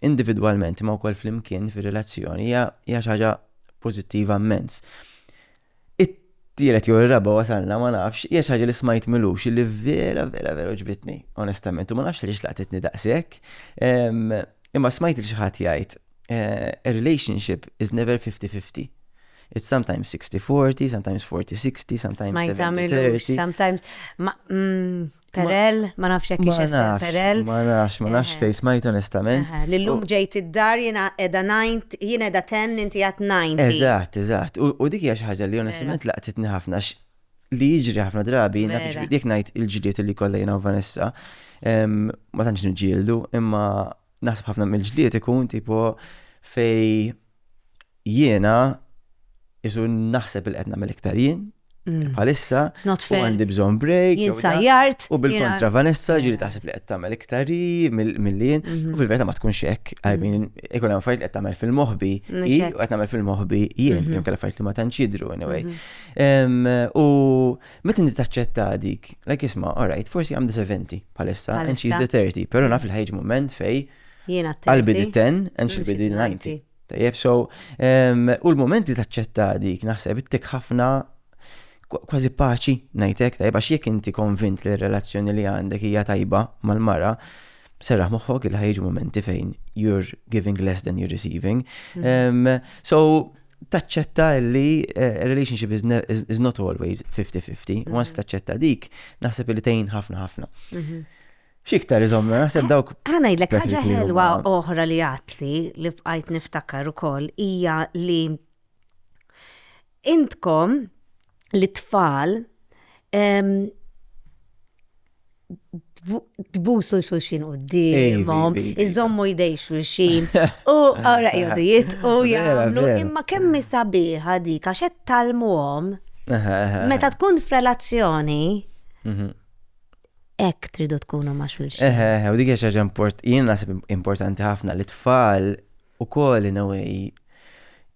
individwalment ma wkoll flimkien fir-relazzjoni hija xi ħaġa pożittiva immens. It-tielet jew ir-raba' wasalna ma nafx hija xi ħaġa li smajt milux li vera vera vera ġbitni onestament u ma nafx li xlaqtitni daqshekk. Imma smajt li xi ħadd jgħid eh, a relationship is never 50-50. It's sometimes 60-40, sometimes 40-60, sometimes 70-30. Sometimes, ma, mm, perel, ma nafx jek perel. Ma nafx, ma nafx fej smajt onestament. L-lum ġejt id-dar jena edha 90, jena edha 10, inti għat 90. Eżat, eżat. U dik hija xi ħaġa li onestament laqtitni ħafna li jiġri ħafna drabi, jek najt il-ġiliet li kollha jena u Vanessa, ma tantx nġildu, imma Naħseb ħafna mill-ġlied ikun tipo fej jiena isu naħseb il-qed nagħmel iktar jien, Mm. Palissa, u għandi bżon break. Jinsajjart. U bil-kontra Vanessa ġiri taħseb li qed tagħmel iktari mill-lien. Mhm. U fil-verta ma tkunx hekk. I mean, mhm. ikun hemm affarijiet qed tagħmel fil-moħbi i u qed nagħmel fil-moħbi jien, mhm. jom kellha affarijiet li ma tantx jidru anyway. U Meta inti taċċetta dik, like isma, alright, forsi għam diseventi palissa, and she's the 30, pero naf il-ħajġ moment fej. Jiena t-30. Għalbi di 10, and she'll be di 90. Tajjeb, so, u l-moment li taċċetta dik, naħseb, ittik ħafna kważi paċi najtek, tajba xiek inti konvint li r-relazzjoni li għandek hija tajba mal-mara, serraħ moħħok il ħajġ momenti fejn you're giving less than you're receiving. Mm. Um, so, taċċetta li eh, relationship is, is not always 50-50. Mhm. Once taċċetta dik, naħseb li tgħin ħafna ħafna. Mhm. Xiktar iżomma, naħseb dawk. Għana jillek ħagġa ħelwa oħra li għatli li bqajt niftakar u koll ija li intkom li tfal tbusu l-xulxin u d-dimom, iżommu jdej xulxin, u għara jgħodu jit, u jgħamlu, imma kemmi sabiħa dik, għaxet tal-muħom, meta tkun f-relazzjoni, mhm. ek tridu tkunu ma xulxin. Eħe, u dik xaġa import, jien nasib importanti ħafna li tfal ukoll in a way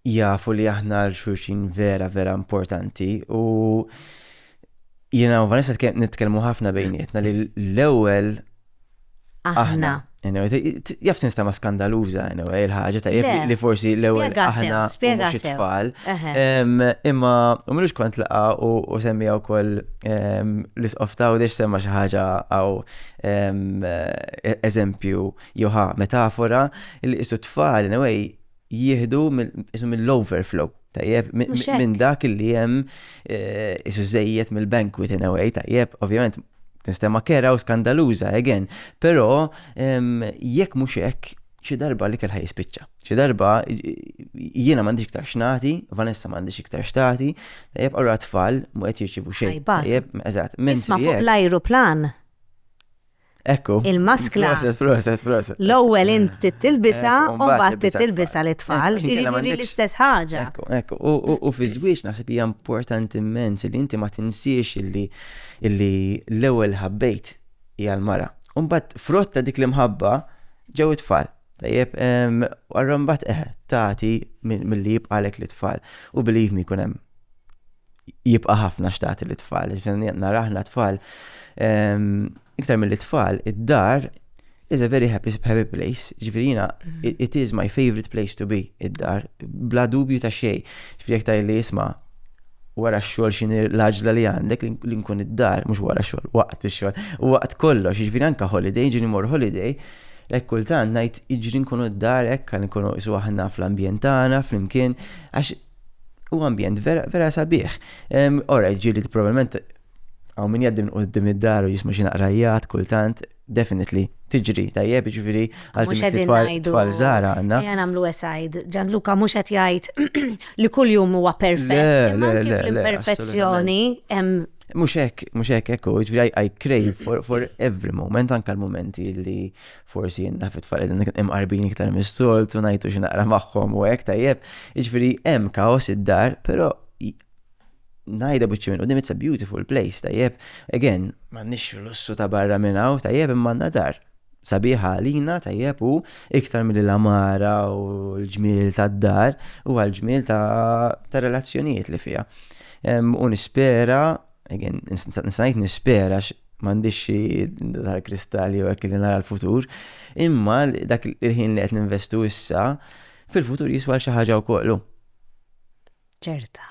jafu li aħna għal xulxin vera vera importanti u jiena u Vanessa nitkellmu ħafna bejnietna li l-ewwel aħna. Jaf tinstama skandaluża il-ħaġa ta' li forsi l-ewwel aħna mhux tfal. Imma u minux kont laqa u semmija wkoll l-isqof ta' u semma xi ħaġa għaw eżempju Jew ħa metafora li qisu t-tfal in a way jieħdu mill-overflow tajjeb, minn dak li jem eh, isu zejjet mill-bankwit in a way, tajjeb, ovvjament, tinstema kera u skandaluza, again, pero jekk mux hekk, xi darba li kelħa jispiċċa. Xi darba jiena m'għandix iktar xnati, Vanessa m'għandix iktar xtati, tajjeb għarra tfal mu qed jirċivu xejn. Tajjeb, eżatt. Isma' fuq l-ajruplan Ekku. Il-maskla. Proset, proset, proset. L-ewwel int titilbisa u mbagħad titilbisa li tfal. Jiġifieri l-istess ħaġa. Ekku, ekku. U fi żwieġ naħseb hija importanti immens li inti ma tinsiex illi l-ewwel ħabbejt hija l-mara. U mbagħad frott ta' dik l-imħabba ġew it-tfal. Tajjeb, għarra mbagħad eħe, tagħti milli jibqalek li tfal. U believe me jkun hemm jibqa' ħafna xtati li tfal. Nara aħna tfal, iktar mill tfal, id-dar is a very happy, happy place. Ġifiri jina, mm. it is my favorite place to be, id-dar, bla dubju ta' xej. Ġifiri jek li jisma wara xol xin l-ħagġla li għandek li nkun id-dar, mux wara xol, waqt xol, u waqt kollox, ġifiri anka holiday, ġini mor holiday, Lek kultant najt iġri nkunu d-dar ekk, nkunu isu aħna fl-ambjent tagħna, fl-imkien, għax Huwa ambjent vera, vera sabiħ. Ora, ġili probablement għaw min jaddim qoddim id-dar u jisma xi naqrajjat kultant, definitely, tiġri tajjeb, ġifiri, għal twal zara għanna. Għan għamlu esajd, ġan Luka mux għat jgħajt li kull jum huwa perfett. L-imperfezzjoni Mux hekk, mux hekk, ekku, ġviri, I crave for, for every moment, anka l-momenti li forsi jien naf it-tfal qegħdin imqarbin iktar mis-soltu ngħidu xi naqra magħhom u hekk tajjeb. Jiġifieri hemm kaos id-dar, però najda buċċi minn qudiem it's a beautiful place tajjeb. Again, m'għandniex lussu ta' barra minn hawn tajjeb imma għandna dar sabiħa għalina tajjeb u iktar mill l-amara u l-ġmiel tad-dar u għal-ġmiel ta' relazzjonijiet li fija. U nispera Again, nisajt nispera m'għandix xi dal kristalli u hekk li nara l-futur, imma dak il-ħin li qed ninvestu issa fil-futur jiswa xi ħaġa wkoll. ċerta.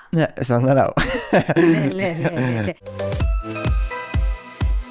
Sa naraw.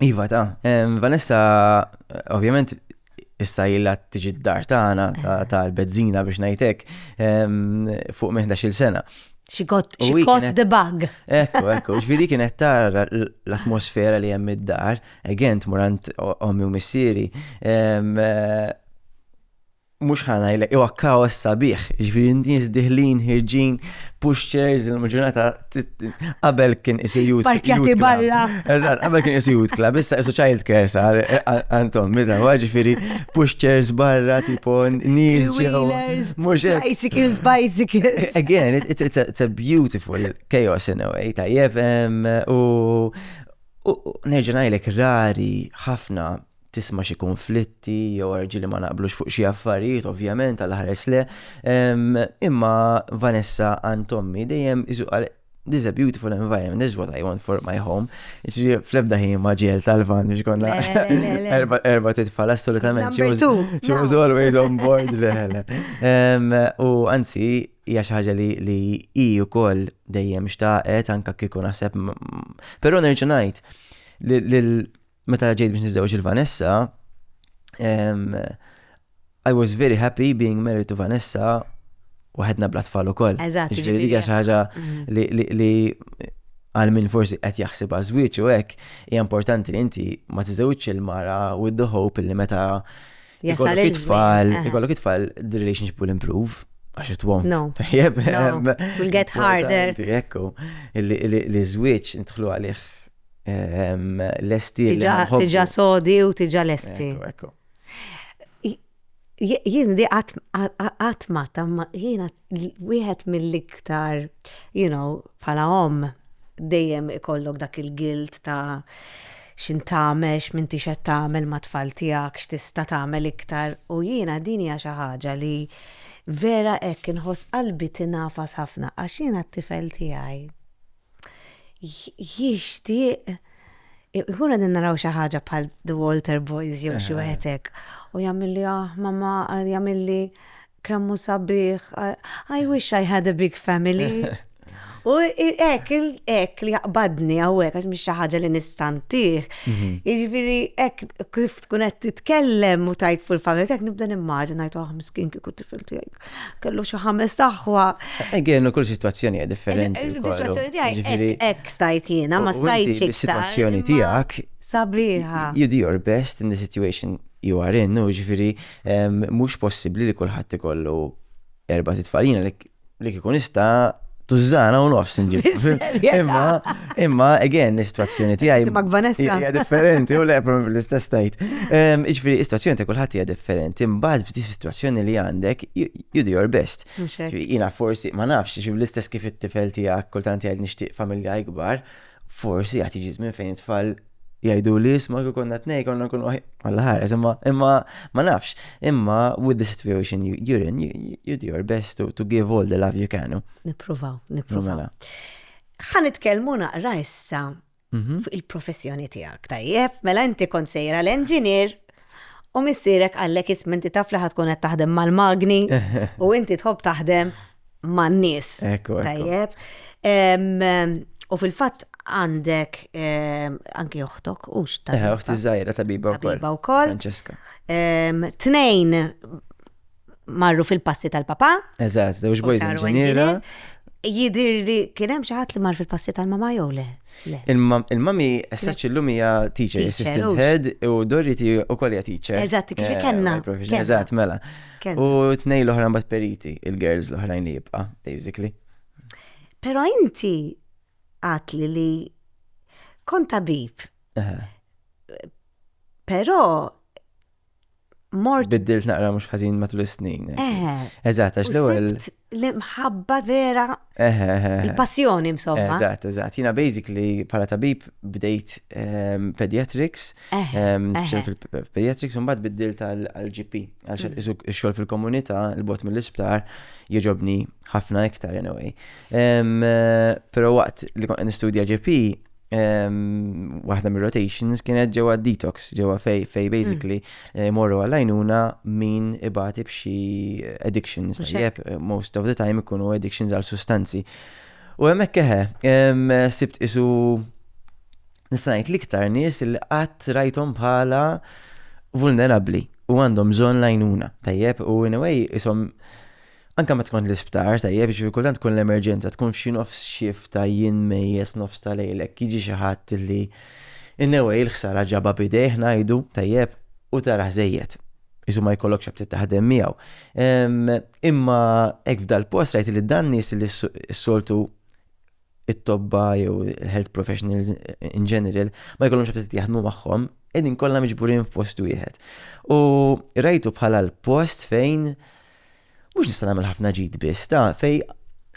Iva ta', Vanessa, ovvjament issa jilla tiġi d-dar tagħna tal-bezzina biex ngħidlek fuq minn 11-il sena. She got, she U hi caught kienet- the bug. Ekku, ekku, ġviri kienet tara l- l-atmosfera li hemm id-dar, again, tmurant ommi u missieri. em, eh, mhux ħa ngħidlek huwa kaos sabiħ, jiġifieri nies diħlin, ħirġin, pushchairs, il-ġurnata qabel kien isir youth. Parkjati barra. Eżatt, qabel kien isir youth club, issa isu child care sar għandhom, eh, meta huwa ġifieri pushchairs barra tipo nies ġew. Mhux bicycles, bicycles. Again, it's a beautiful chaos in a way, tajjeb u nerġa' ngħidlek rari ħafna tisma' xi kunflitti jew arġili ma naqblux fuq xi affarijiet, ovvjament għal ħares le. Imma Vanessa għand tommi dejjem isu qal This is a beautiful environment, this is what I want for my home. Ġri fl-ebda ħin ma ġiel tal-van biex konna erba titfal assolutament. She was always on board leħele. U anzi, hija xi ħaġa li hi wkoll dejjem xtaqet anke kieku naħseb. Però nerġa' ngħid Meta ġejt biex niżżewġ il-Vanessa, um, I was very happy being married to Vanessa u ħedna bla tfal ukoll. Eżatt. Ġifieri dik xi ħaġa mm-hmm. li għal min forsi qed jaħseb żwieġ u hekk hija importanti li inti ma tiżewġx il-mara with the hope li meta Jasal it-tfal, ikollok it-tfal, the relationship will improve. Għax it won't. No. Tajjeb. It will get harder. Ekku, li zwieċ nitħlu għalih lesti li nħobbu. Tiġa sodi u tiġa lesti. Jien di għatma tamma, jiena wieħed mill-iktar, you know, pala om, dejjem ikollok dak il-gilt ta' xin tagħmel, x'minti xed tagħmel ma' tfal tiegħek, x'tista' tagħmel iktar. U jiena din hija xi ħaġa li vera hekk inħoss qalbi tingħafas ħafna għax jiena t-tifel tiegħi. jixtieq Ikun għadin naraw xi ħaġa bħal The Walter Boys jew xi wieħedek u jagħmilli ah mamma jagħmilli kemmu sabiħ I wish I had a big family. U ek, ek li jaqbadni għawek, għax miex ħaġa li nistantih. Mhm. Iġviri, ek kif tkun qed titkellem u tajt fuq il-familja, ek nibda nimmaġin għajtu għahmiskin kiku tifiltu jgħajk. kellu xi ħames aħwa. Again, kull situazzjoni hija differenti. Eh, eh, situazzjoni tiegħi hekk stajt jiena, ma stajtx iktar. Situazzjoni tiegħek sabiħa. You do your best in the situation you are in, u ġifieri mhux possibbli li kulħadd ikollu erba' titfalina li kikun ista' tużżana u nofs nġib. Imma, imma, again, l-istazzjoni tiegħi. Timak Vanessa. Hija differenti, u le, probabli l-istess tajt. Ehm, iġifieri, istazzjoni ta' kulħadd hija differenti, imbagħad f'di situazzjoni li għandek, you do your best. Jiena forsi, ma nafx, l-istess kif it-tifel tiegħek kultant jgħid nixtieq familja ikbar, Forsi għat jiġi żmien fejn it-tfal jgħidu li jisma kif konna tnej konna nkunu għalla ħares, imma imma ma nafx, imma with the situation you, you're in, you, you do your best to, to give all the love you can. Nipruvaw, nipruvaw. Mela. Ħan nitkellmu naqra issa mhm. fuq il-professjoni tiegħek. Tajjeb, mela inti kont sejra l-engineer U missierek qallek isma' inti taf li ħa tkun qed taħdem mal-magni u inti tħobb taħdem man-nies. Ekku, ekku. Tajjeb. Em, U fil-fatt għandek em, anki oħtok u Eh, x'tabiba. uħti żgħira tabiba wkoll. Tabiba wkoll. Francesca. Em, Tnejn marru fil-passi tal-papa. Eżatt, żewġ boys inġiniera. Jidir li kien hemm xi ħadd li mar fil-passi tal-mama jew le? Il-mami essaċ illum hija teacher, assistant head u Doriti ukoll hija teacher. Eżatt, kif eh, kellna. Eżatt, mela. U tnej l-oħra mbagħad periti, il-girls l-oħrajn li jibqa', basically. Però inti għatli li kont tabib. Però mort. Biddilt naqra mhux ħażin matul is-snin. Eżatt, għax l-ewwel. L-imħabba vera. Il-passjoni insomma. Eżatt, eżatt. Jiena basically bħala tabib bdejt ehm, pediatrics, ehm, fil-pediatrics u mbagħad biddilt għal-GP għal mm. xogħol fil-komunità l-bot mill-isptar jogħġobni ħafna iktar anyway. Ehm, però waqt li kont nistudja GP waħda mir rotations kienet ġewwa detox, ġewwa fej fej mm. basically eh, morru għal-għajnuna min ibati b'xi addictions. Jep, eh, most of the time ikunu addictions għal sustanzi. U hemmhekk keħe, sibt isu nistanajt liktar nies li qatt rajtom bħala vulnerabli u għandhom bżonn lajnuna. Tajjeb, u in a way isom Anke meta tkun l-isptar, tajjeb, jiġifieri kultant tkun l-emerġenza, tkun f'xi nofs shift ta' jien mejjet f'nofs ta' lejl hekk jiġi xi ħadd li in a way l-ħsara ġabha b'idejh ngħidu, tajjeb, u tarah żejjed. Qisu ma jkollokx aptit taħdem miegħu. Imma hekk f'dal-post rajt li dan nies li s-soltu it-tobba jew il-health professionals in general ma jkollhomx absit jaħdmu magħhom, qegħdin kollha miġburin f'post wieħed. U rajtu bħala l-post fejn mhux nista' nagħmel ħafna ġid biss, ta' fej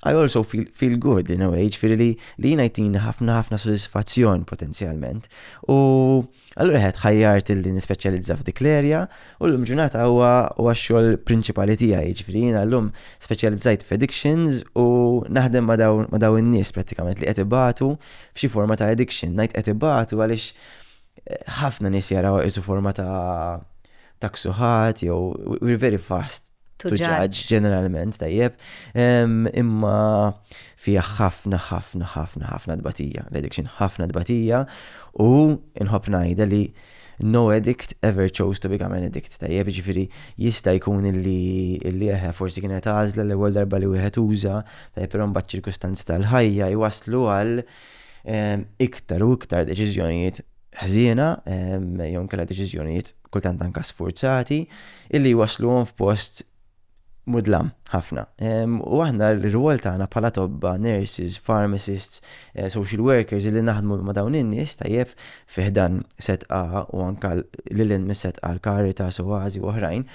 I also feel, feel good in a way, ġifieri li li jiena jtini ħafna ħafna sodisfazzjon potenzjalment. U Allura ħed ħajjart li nispeċjalizza f'dik l-erja u l-lum ġurnata huwa huwa x-xogħol prinċipali tiegħi, jiġifieri jiena llum speċjalizzajt f'addictions u naħdem ma' dawn ma' dawn in-nies prattikament li qed ibatu f'xi forma ta' addiction. Ngħid qed ibatu għaliex eh, ħafna nies jaraw isu forma ta' ta' ksuħat jew we're very fast to judge ġeneralment tajjeb, imma fija ħafna ħafna ħafna ħafna dbatija, l-addiction ħafna dbatija u nħobb ngħidha li no addict ever chose to become an addict. Tajjeb ġifiri jista jkun illi illi eħe forsi kienet għazla l-ewwel darba li wieħed uża, tajjeb però mbagħad ċirkustanzi tal-ħajja jwaslu għal iktar u iktar deċiżjonijiet ħżiena jew kella deċiżjonijiet kultant anka sfurzati, illi jwasluhom f'post mudlam ħafna. U aħna l-rwol tagħna bħala tobba, nurses, pharmacists, eh, social workers li naħdmu ma' dawn in-nies tajjeb fiħdan setqa u anka lilin mis-setqa l-karita, sowazi u oħrajn,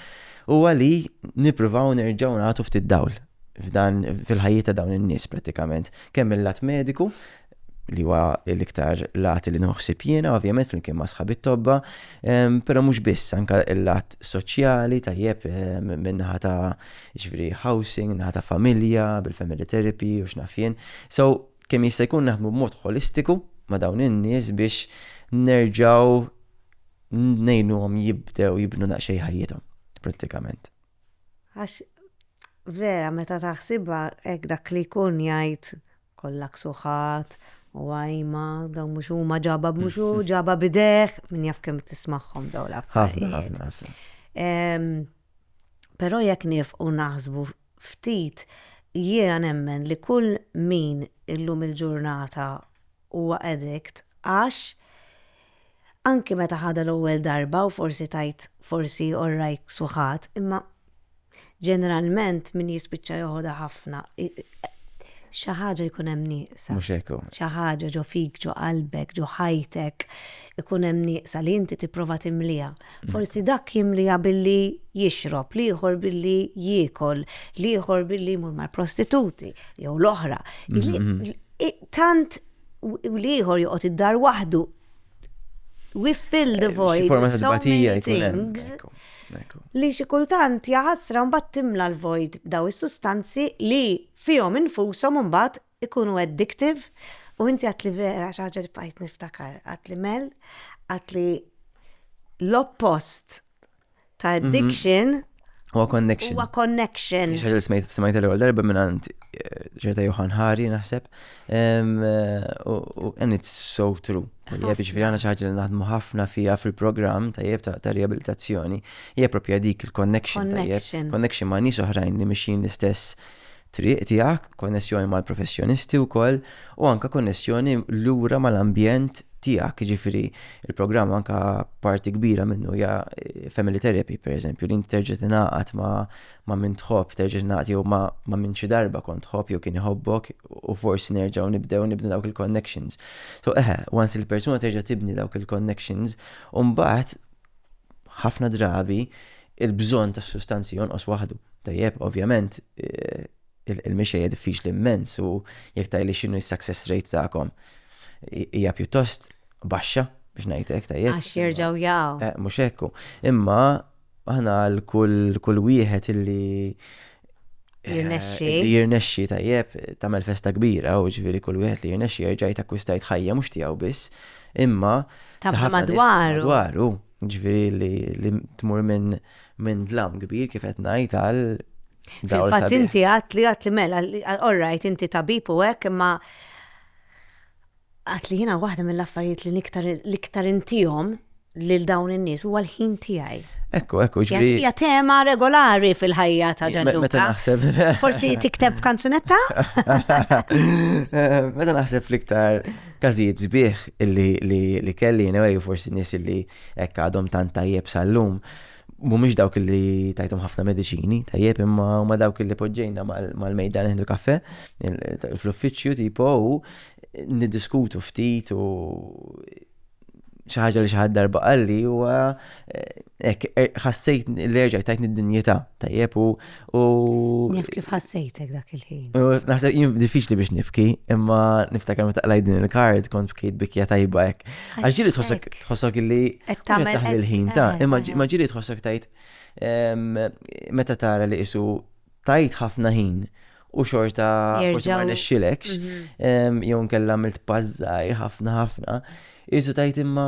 u għali nippruvaw nerġgħu nagħtu ftit dawl f'dan fil-ħajjiet ta' dawn in-nies pratikament, kemm il-lat mediku li huwa l-iktar lat li nieħu ħsieb jiena, ovvjament flimkien ma' sħabi t-tobba, però mhux biss, anke l-lat soċjali tajjeb min-naħa ta' ġifieri housing, naħa ta' familja, bil-family therapy u x'naf jien. So kemm jista' jkun naħdmu b'mod ħolistiku ma' dawn in-nies biex nerġgħu ngħinuhom jibdew jibnu daqsxejn ħajjithom prattikament. Għax vera meta taħsibha hekk dak li jkun jgħid Kollha ksuħat u għajma, dawn mhux huma ġaba b'mhux hu, ġaba b'idejh, min jaf kemm tismagħhom dawn l-affarijiet. Ħafna, ħafna, ħafna. Però jekk nifqu naħsbu ftit, jiena nemmen li kull min illum il-ġurnata huwa addict għax Anki meta ħadha l-ewwel darba u forsi tgħid forsi orrajk suħat, imma ġeneralment min jispiċċa joħodha ħafna xi ħaġa jkun hemm nieqsa. Mhux hekk hu. Xi ħaġa ġo fik, ġo qalbek, ġo ħajtek ikun hemm nieqsa li inti tipprova timliha. Mm. Forsi dak jimliha billi jixrob, l-ieħor billi jiekol, l-ieħor billi jmur mal-prostituti jew l-oħra. Mm-hmm. Tant u l-ieħor joqgħod id-dar waħdu. We fill the eh, void. Xi forma ta' tbatija jkun hemm. Li xi kultant jaħasra mbagħad timla l-void daw is-sustanzi li fihom infushom mbagħad ikunu addictive u inti għat li vera xi ħaġa li bqajt niftakar għat li mel għat li l-oppost ta' mhm. addiction Huwa connection. Huwa connection. Xaġa li smajt smajt l-ewwel darba minn għand eh, ġerta Johan Hari naħseb. Eh, and it's so true. Tajjeb, ġifieri għandna xi ħaġa li naħdmu ħafna fiha fil-programm tajjeb ta' riabilitazzjoni. Hija propja dik il-connection tajjeb. Connection ma' nies oħrajn li mixin l-istess Triq tiegħek, konnessjoni mal-professjonisti wkoll u anke konnessjoni lura mal-ambjent tiegħek, jiġifieri l-programm anke parti kbira minnu hija family therapy pereżempju li inti terġa' tingħaqad ma' min tħobb, terġa' tingħaqad jew ma' min xi darba kont tħobb jew kien iħobbok u forsi nerġgħu nibdew nibnu dawk il-connections. So eħe, once il-persuna terġa' tibni dawk il-connections, imbagħad ħafna drabi il-bżonn ta' sustanzi jonqos waħdu. Tajjeb, ovvjament, eh, il-mixejja diffiċli immens u jekk tajli x'inhu s-success rate tagħkom hija pjuttost baxxa biex ngħidlek tajjeb. Għax jerġgħu jaqgħu. Eh, mhux hekk. Imma aħna għal kull wieħed illi Jirnexxi. Eh, li jirnexxi tajjeb tagħmel festa kbira u ġifieri kull wieħed li jirnexxi jerġa' jtakwistajt ħajja mhux tiegħu biss, imma ta' madwaru. Madwaru, ġifieri li tmur minn minn dlam kbir kif qed ngħid għal Fil-fatt inti għat li għat li mela, all right, inti tabib u hekk imma Għad li jiena waħda mill-affarijiet li niktar l-iktar intihom lil dawn in-nies huwa l-ħin tiegħi. Ekku, ekku, ġri. Hija tema regolari fil-ħajja ta' Ġanluka. Meta naħseb. Forsi tikteb kanzunetta? Eh, meta naħseb fl-iktar każijiet sbieħ li kelli, anyway, forsi nies li hekk għadhom tant tajjeb sal-lum. mhumiex dawk li tajtom ħafna mediċini, tajjeb imma huma dawk li poġġejna mal-mejda neħdu kafe fl-uffiċċju tipo u niddiskutu ftit u xi ħaġa li xi ħadd darba qalli huwa eh, er, ħassejt li erġa' tajtni d-dinjità tajjeb u U. Nif kif ħassejtek dak il-ħin. Naħseb jien diffiċli biex nifki, imma niftakar meta qlaj din il-kard kont bkejt bikja tajba hekk. Għax ġili tħossok tħossok illi taħdem il-ħin ta' eh, imma eh, eh. ġili tħossok tajt ehm, meta tara li isu tajt ħafna ħin u xorta forsi ma nexxilekx mhm. ehm, jew nkella milt pażżaj ħafna ħafna. Isu tajt imma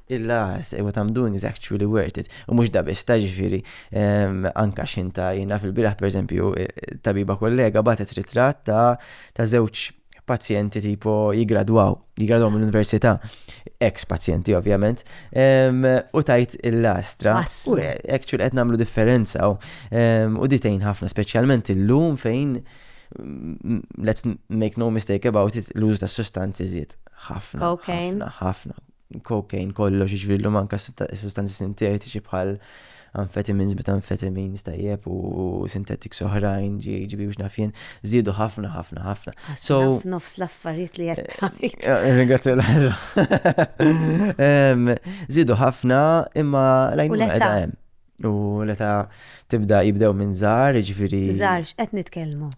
Il-last, what I'm doing is actually worth it. U mhux da biss, ta' ġifieri, anka xinta jien naf il-biraħ pereżempju tabiba kollega bagħtet ritratt ta' ta' żewġ pazjenti tipo jigradwaw, jigradwaw mill-università, ex pazjenti ovvjament, u tajt il-lastra. U actually qed nagħmlu differenza u ditejn ħafna, speċjalment illum fejn let's make no mistake about it, l-użu ta' sustanzi żied ħafna. Ħafna, ħafna. cocaine kollox, jiġifieri llum anke sustanzi sintetiċi bħal amphetamines, methamphetamines tajjeb u sintetiks oħrajn, GHB u x'naf jien, żiedu ħafna ħafna ħafna. So nofs l-affarijiet li qed tgħid. Eh, eh, ringrazzja l-ħarra. Żiedu ħafna imma rajnu hemm. U l-età tibda jibdew minn żgħar, jiġifieri. Żgħar x'qed nitkellmu?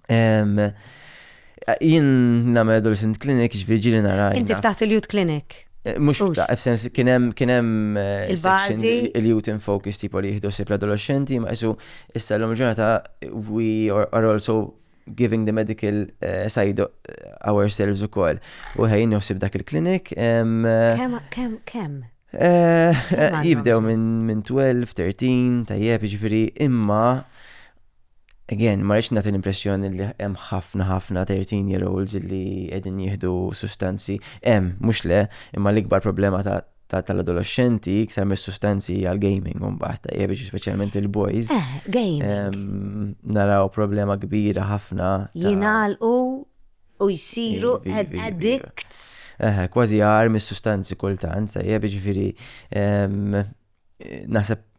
Jien nagħmel adolescent clinic jiġifieri ġieli nara. Inti ftaħt il-youth clinic? Eh, mux fta, f'sens kienem kienem eh, il-bazi il-youth in focus tipo li jihdu sib l-adolescenti, ma jisu issa l-lum ġurnata we are also giving the medical uh, side ourselves u koll. U ħajn joħsib dak il-klinik. Kem, kem, kem? Eh, eh, jibdew minn 12, 13, tajjeb, ġifiri, imma Again, ma rridx nagħti l-impressjoni li hemm ħafna ħafna 13 year olds li qegħdin jieħdu sustanzi hemm mhux le, imma l-ikbar problema ta' ta' tal-adolexxenti iktar mis-sustanzi għall-gaming mbagħad tajjeb jiġi speċjalment il-boys. Eh, gaming. Naraw problema kbira ħafna. Jingħalqu u jsiru addicts. Eh, kważi għar mis-sustanzi kultant tajjeb jiġifieri naħseb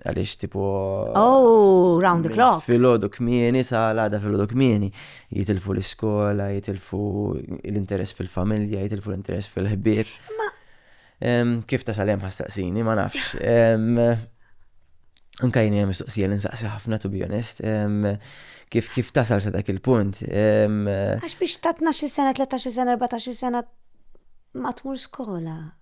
għalix tipo. Oh, round the clock. Filodu kmieni, sa l-għada filodu kmieni. Jitilfu l-iskola, jitilfu l-interess fil-familja, jitilfu l-interess fil-ħbib. Kif ta' salem ħastaqsini, ma nafx. Anka jini għem istoqsija l-insaqsi ħafna, to be honest. Kif kif tasal sa dak il-punt? Għax biex ta' 12 sena, 13 sena, 14 sena, ma tmur skola.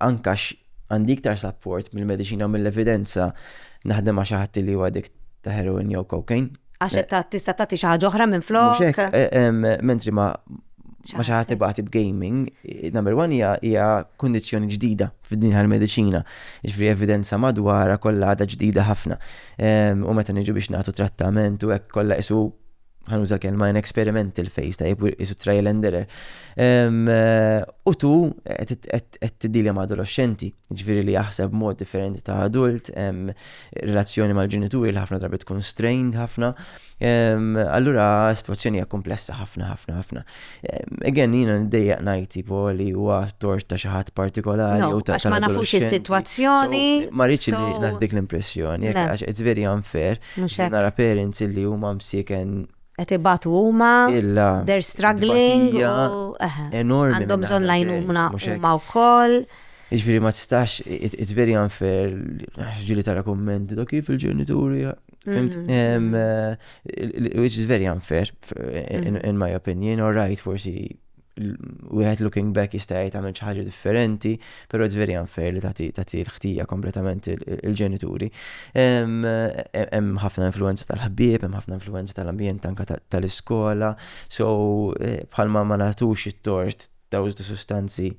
anka għandi iktar support mill-mediċina u mill-evidenza naħdem ma' xi ħadd li huwa dik ta' heroin jew cocaine. Għax eh, tista' tagħti xi ħaġa oħra minn flok. Eh, mentri ma ma xi ħadd ibati b'gaming, eh, number one hija hija kundizzjoni ġdida fid-din tal-mediċina. Ġifieri evidenza madwara kollha għadha ġdida ħafna. U meta niġu biex nagħtu trattament u hekk kollha isu ħanuża l-kelma in experimental phase ta' jibwir isu trial and error. Eh, u tu qed tiddilja ma' adolescenti, ġviri li jaħseb mod differenti ta' adult, relazzjoni mal-ġenituri li ħafna drabi tkun strained ħafna. Allura situazzjoni hija komplessa ħafna ħafna ħafna. Again jiena ndejjaq ngħid tipo li huwa tort ta' xi ħadd partikolari u ta' ma nafux is-sitwazzjoni. Ma rridx li naħdik l-impressjoni, għax it's very unfair. Mhux hekk. Nara parents illi huma msieken qed ibatu huma, they're struggling, enormi. Għandhom bżonn lajnuna huma wkoll. Iġviri ma tistax, it's very unfair, ġili tara komment, da kif il-ġenituri, fimt, mm-hmm. eh, which is very unfair, in my opinion, or right, forsi wieħed looking back jista' jgħid għamel xi ħaġa differenti, però it's very unfair li tagħti l-ħtija kompletament il-ġenituri. Hemm ħafna influenza tal-ħbieb, hemm ħafna influenza tal-ambjent anke tal-iskola, so eh, bħalma ma nagħtux it-tort dawż sustanzi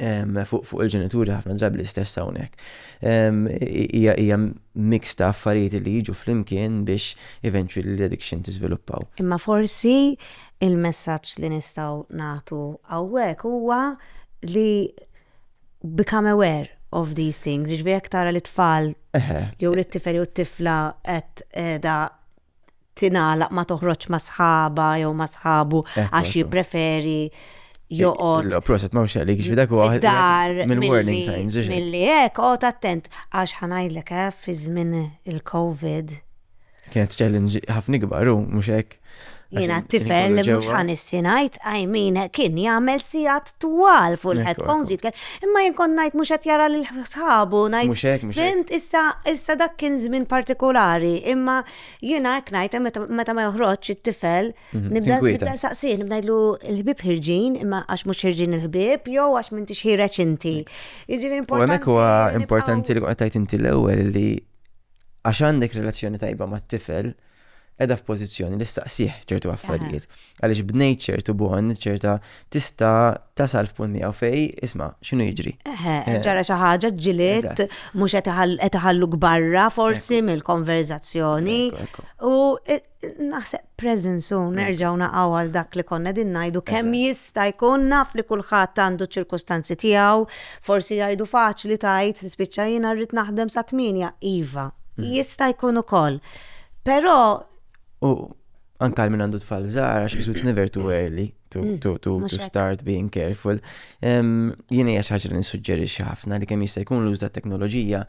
fuq il-ġenituri ħafna drabi l-istess hawnhekk. Hija mix ta' affarijiet li jiġu flimkien biex eventually l-addiction tiżviluppaw. Imma forsi il-messaġġ li nistgħu nagħtu hawnhekk huwa li become aware of these things, jiġifieri jekk tara li tfal jew li tifel jew tifla qed qiegħda tingħalaq ma toħroġx ma' sħaba jew ma' sħabu għax jippreferi joqgħod. Proset ma xaqli kif dak huwa dar mill-warning signs. Milli hekk qgħod attent għax ħanajlek eh, fi żmien il-COVID. Kienet challenge ħafna kbar u mhux hekk. Jiena t-tifel li mhux ħanissi ngħid għajmin kien jagħmel sigħat twal fuq il-headphones jitkellem. Imma jien kont ngħid mhux qed jara lil sħabu ngħid. Mhux hekk, mhux Fimt issa issa dak kien żmien partikolari, imma jiena hekk ngħid meta ma joħroġ it-tifel mhm, nibda saqsih nibda ngħidlu l-ħbieb ħirġin imma għax mhux ħirġin il-ħbieb jew għax minn tixħireġ inti. Jiġifieri importanti. Hemmhekk huwa importanti li qed tgħid inti l-ewwel li għax għandek relazzjoni tajba mat-tifel, qiegħda f'pożizzjoni li ssaqsih ċertu affarijiet. Għaliex bnejt ċertu bon, ċerta tista' tasal f'punt miegħu fej, isma' x'inhu jiġri. Eħe, eh. ġara xi ħaġa ġiliet, mhux qed iħalluk barra forsi mill-konverżazzjoni. U eh, naħseb presence u nerġgħu naqgħu għal dak li konna din ngħidu kemm jista' jkun naf li kulħadd għandu ċirkustanzi tiegħu, forsi jgħidu faċli tajt tispiċċa jiena rrid naħdem sa tmienja iva. Mm. Jista' jkun ukoll. Però. U anka minn għandu tfal żgħar għax it's never too early to, mm, to, to, to start being careful. Jien hija xi ħaġa li nissuġġerixxi ħafna li kemm jista' jkun l-użda teknoloġija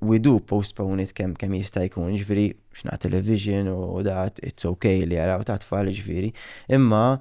we do postpone it kemm kemm jista' jkun, ġifieri x'na television u dat it's okay li jaraw ta' tfal ġifieri. Imma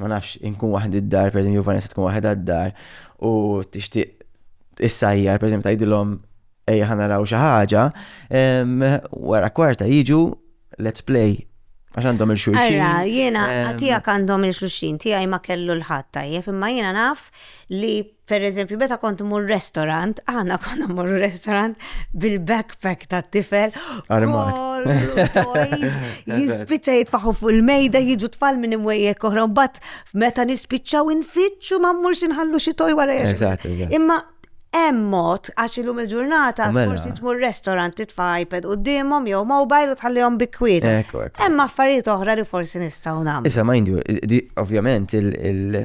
ma nafx, inkun waħd id-dar, per eżempju, Vanessa tkun waħda d-dar u tixtieq issajjar, per eżempju, tajdilhom ejja ħana raw xi ħaġa, wara kwarta jiġu let's play għax għandhom il-xulxin. Ara, jiena tijak għandhom il-xulxin, tijaj ma kellu l-ħadd tajjeb, imma jiena naf li Per eżempju, meta kont mur restorant, għana konna mur restorant bil-backpack ta' tifel. Armat. Jispicċa jitfaħu fuq il-mejda, jiġu tfal minn imwejjek koħra, bat meta nispiċċaw infittxu ma mur xinħallu xi toj wara Imma hemm mod għax illum il-ġurnata mela. forsi tmur restorant titfa' iPad qudiemhom jew mobile u tħallihom bikwiet. Hemm affarijiet oħra li forsi nistgħu nagħmlu. Issa mind you, ovvjament il-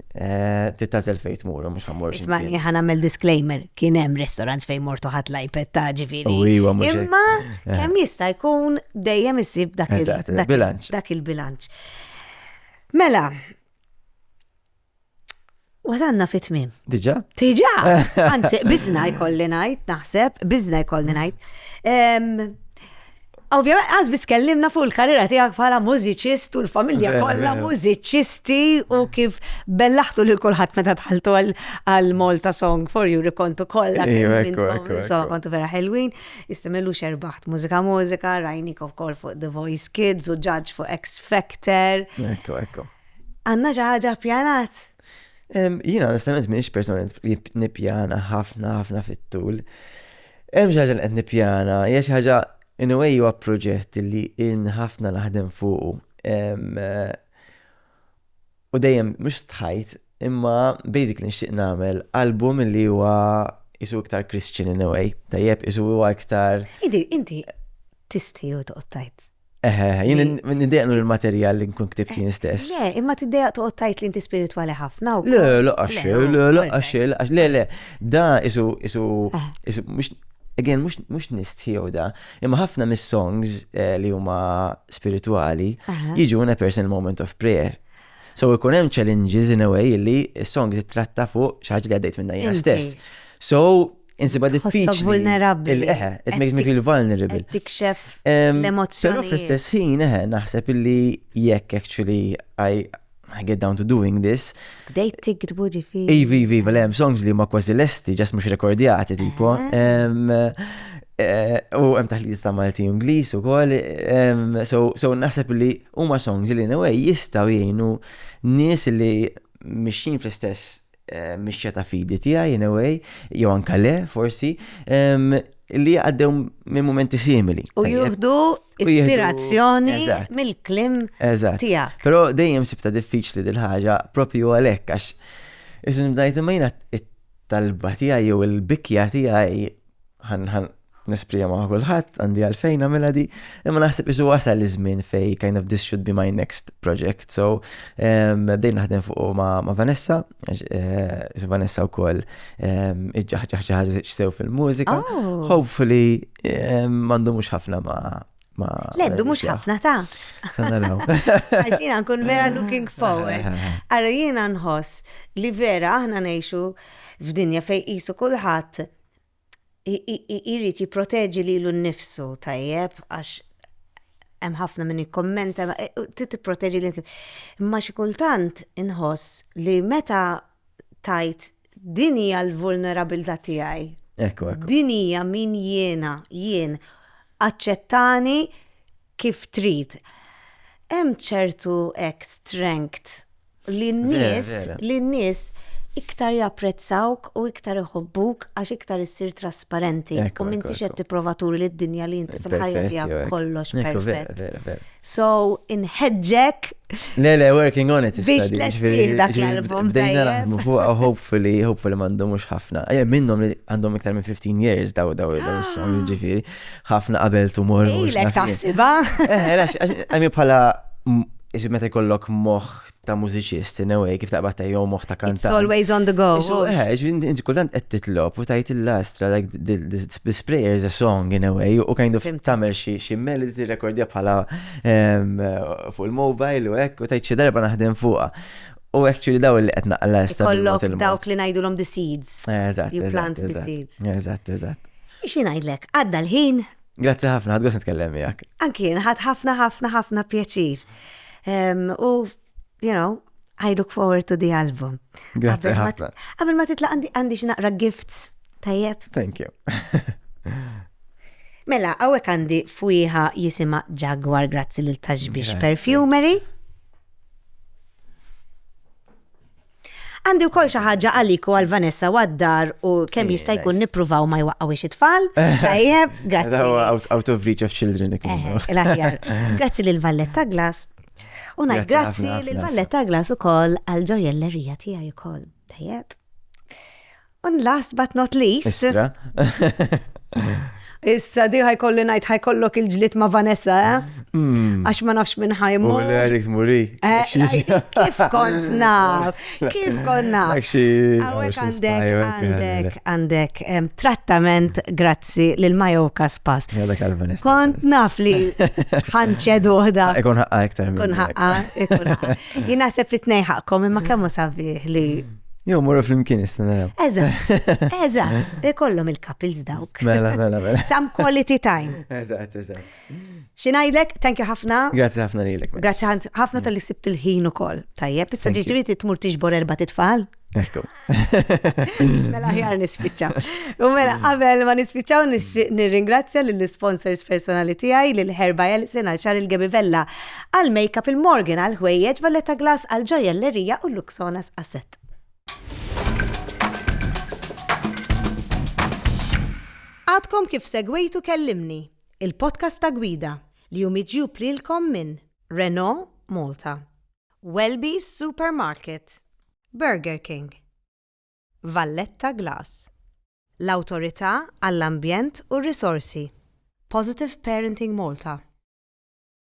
Eh, Tittazel fejn tmur, mhux ħammur. Isma' li ħan nagħmel disclaimer, kien hemm restaurants fejn mortu ħadd l-iPad ta' ġifieri. Iva, Imma eh. kemm jista' jkun dejjem issib dak il-bilanċ. Dak il-bilanċ. Mela, Wasanna fit tmim. Diġa? Diġa! Anzi, bizna jkolli najt, naħseb, bizna jkolli najt. Ovvjament, għaz bis kellimna fuq il-karriera tijak bħala mużiċist u l-familja eh, kollha eh. mużiċisti u kif bellaħtu lil kulħadd meta tħaltu għal Malta Song for You kontu kollha. Iva, Insomma, kontu vera ħelwin, istimellu xerbaħt mużika mużika, rajnik of kol fuq The Voice Kids u Judge fuq X Factor. Ekku, ekku. Għanna ġaħġa pjanat? Jina onestament minix persona li nipjana ħafna ħafna fit-tul. Hemm xi ħaġa li qed nipjana, hija xi ħaġa in a way huwa proġett li in ħafna naħdem fuqu. Eh, u dejjem mhux stħajt, imma basically nixtieq nagħmel album li huwa isu iktar Christian in a way, tajjeb isu huwa iktar. Idi, inti tisti u toqgħod tajt Eħe, jien nidejqnu l-materjal li nkun ktibt jien stess. Le, imma tiddejaq toqgħod tajt li inti spiritwali ħafna. Le, laqax, le, laqax, laqax, le, le. Da isu, isu, isu, mux, again, mux, mux nistħiju da. Imma ħafna mis-songs eh, li huma spiritwali jiġu in a personal moment of prayer. So ikun hemm challenges in a way li s-song titratta fuq xi ħaġa li għaddejt minna jien stess. So, Insibha diffiċli. Tħossok vulnerabbli. Eħe, it makes me feel vulnerable. Tikxef l-emozzjoni. Però fl-istess ħin, eħe, naħseb illi jekk actually I I get down to doing this. Dejt tigdbu ġifi. Ivi, ivi, ivi, hemm songs li ma kważi lesti, ġas mhux rekordjati tipo. Eh, u hemm taħlit ta' Malti Ingliż ukoll. So naħseb li huma songs li in a way jistgħu jgħinu nies li mixin fl-istess mixja ta' fidi tiegħi in a way, jew anka le, forsi, li għaddew minn momenti simili. U juhdu ispirazzjoni mill-klim tiegħek. Però dejjem sibta diffiċli dil ħaġa propju għalhekk għax isu nibdajt imma jiena it-talba tiegħi jew il-bikja tiegħi ħan ħan nesprija ma' kulħadd għandi għalfejn nagħmilha di, imma naħseb isu wasal iż-żmien fej kind of this should be my next project. So ehm, bdejt naħdem fuq ma', ma Vanessa, eh, isu Vanessa wkoll ehm, iġġaħġaħ sew fil-mużika. Oh. Hopefully ehm, m'għandu mhux ħafna ma' ma. Leddu mhux ħafna ta'. Sanaraw. Għax jiena nkun vera looking forward. Ara jiena nħoss li vera aħna ngħixu f'dinja fej qisu kulħadd jrid jipproteġi lilu nnifsu tajjeb għax hemm ħafna min jikkommenta e, trid tipproteġi lil imma xi kultant inħoss li meta tajt din hija l-vulnerabilità tiegħi. Ekku, ekku. Din hija min jiena, jien aċċettani kif trid. Hemm ċertu hekk strength li n-nies li n-nies iktar japprezzawk u iktar iħobbuk għax iktar issir trasparenti u m'intix qed tipprova turi lid-dinja li inti fil-ħajja tiegħek kollox perfett. So inħeġġek Le le working on it biex tlestih dak l-album. Bdejna naħdmu fuq hopefully hopefully m'għandhom mhux ħafna. Minnhom li għandhom iktar minn 15 years daw daw is-song ġifieri. ħafna qabel tumor. Ilek taħsiba. Għamil bħala Isu meta jkollok moħ ta' mużiċist, in a way, kif taqbad ta' jew moħ ta' kantant. It's always on the go. Isu, eh, inti kultant qed titlob u tajt il-lastra, like, this prayer is a song, in a way, u kind of tamel xi melody tirrekordja bħala ehm, fuq il-mobile u hekk, u tajt xi darba naħdem fuqha. U actually daw li qed naqla Kollok dawk li ngħidulhom the seeds. Eh, eżatt. You plant the seeds. Eżatt, eżatt. Xi ngħidlek, għadda l-ħin. Grazzi ħafna, ħadd gost nitkellem miegħek. Anki jien ħadd ħafna ħafna ħafna pjaċir. Ehm, u, you know, I look forward to the album. Grazzi ħafna. Qabel ma titla' għandi xi naqra gifts tajjeb. Thank you. Mela, għawek għandi fwiħa jisima Jaguar grazzi l-taġbix perfumery. Għandi wkoll xi ħaġa għalik u għal Vanessa u għad-dar u kemm eh, jista' jkun nippruvaw ma jwaqqgħux it-tfal. Eh. Tajjeb, grazzi. Out of reach of children. Eh, l-aħjar. Grazzi lil Valletta Glass. U ngħid grazzi lil Valletta Glass ukoll għal ġojellerija tiegħi ukoll. Tajjeb. And last but not least. Istra. Issa di ħajkolli ngħid ħajkollok il-ġlit ma' Vanessa, eh? Hmm. Għax ma nafx minn ħajmu. U l-Erik muri. Eh, kif kont naf? Kif kont naf? Għawek għandek, għandek, għandek trattament grazzi lil Majoka Spas. Kont naf li ħanċedu uħda. Ikun ħaqqa iktar. Ikun ħaqqa, ikun ħaqqa. Jina sepp it-nej ħaqqom imma kemmu sabiħ li Jew morru fl-imkien nista' naraw. Eżatt, eżatt, ikollhom il-couples dawk. Mela, mela, mela. Some quality time. Eżatt, eżatt. Xinajdlek, thank you ħafna. Grazzi ħafna lilek. Grazzi ħafna tal-li sibt il-ħin ukoll. Tajjeb, issa ġiġri tmur tiġbor erba' titfal. Ekku. Mela ħjar nispiċċa. U mela qabel ma nispiċċaw nirringrazzja lill-sponsors personali tiegħi lil Herba Elsin għal xar il-Gebivella għall-makeup, il-Morgan għall-ħwejjeġ, Valletta Glass għall-ġojellerija u l-Luxonas għas-sett. Għadkom kif segwejtu Kellimni, il-podcast ta' Gwida li hu miġjub lilkom minn Renault Malta, Welby's Supermarket, Burger King, Valletta Glass, l-Awtorità għall-Ambjent u r-Risorsi, Positive Parenting Malta,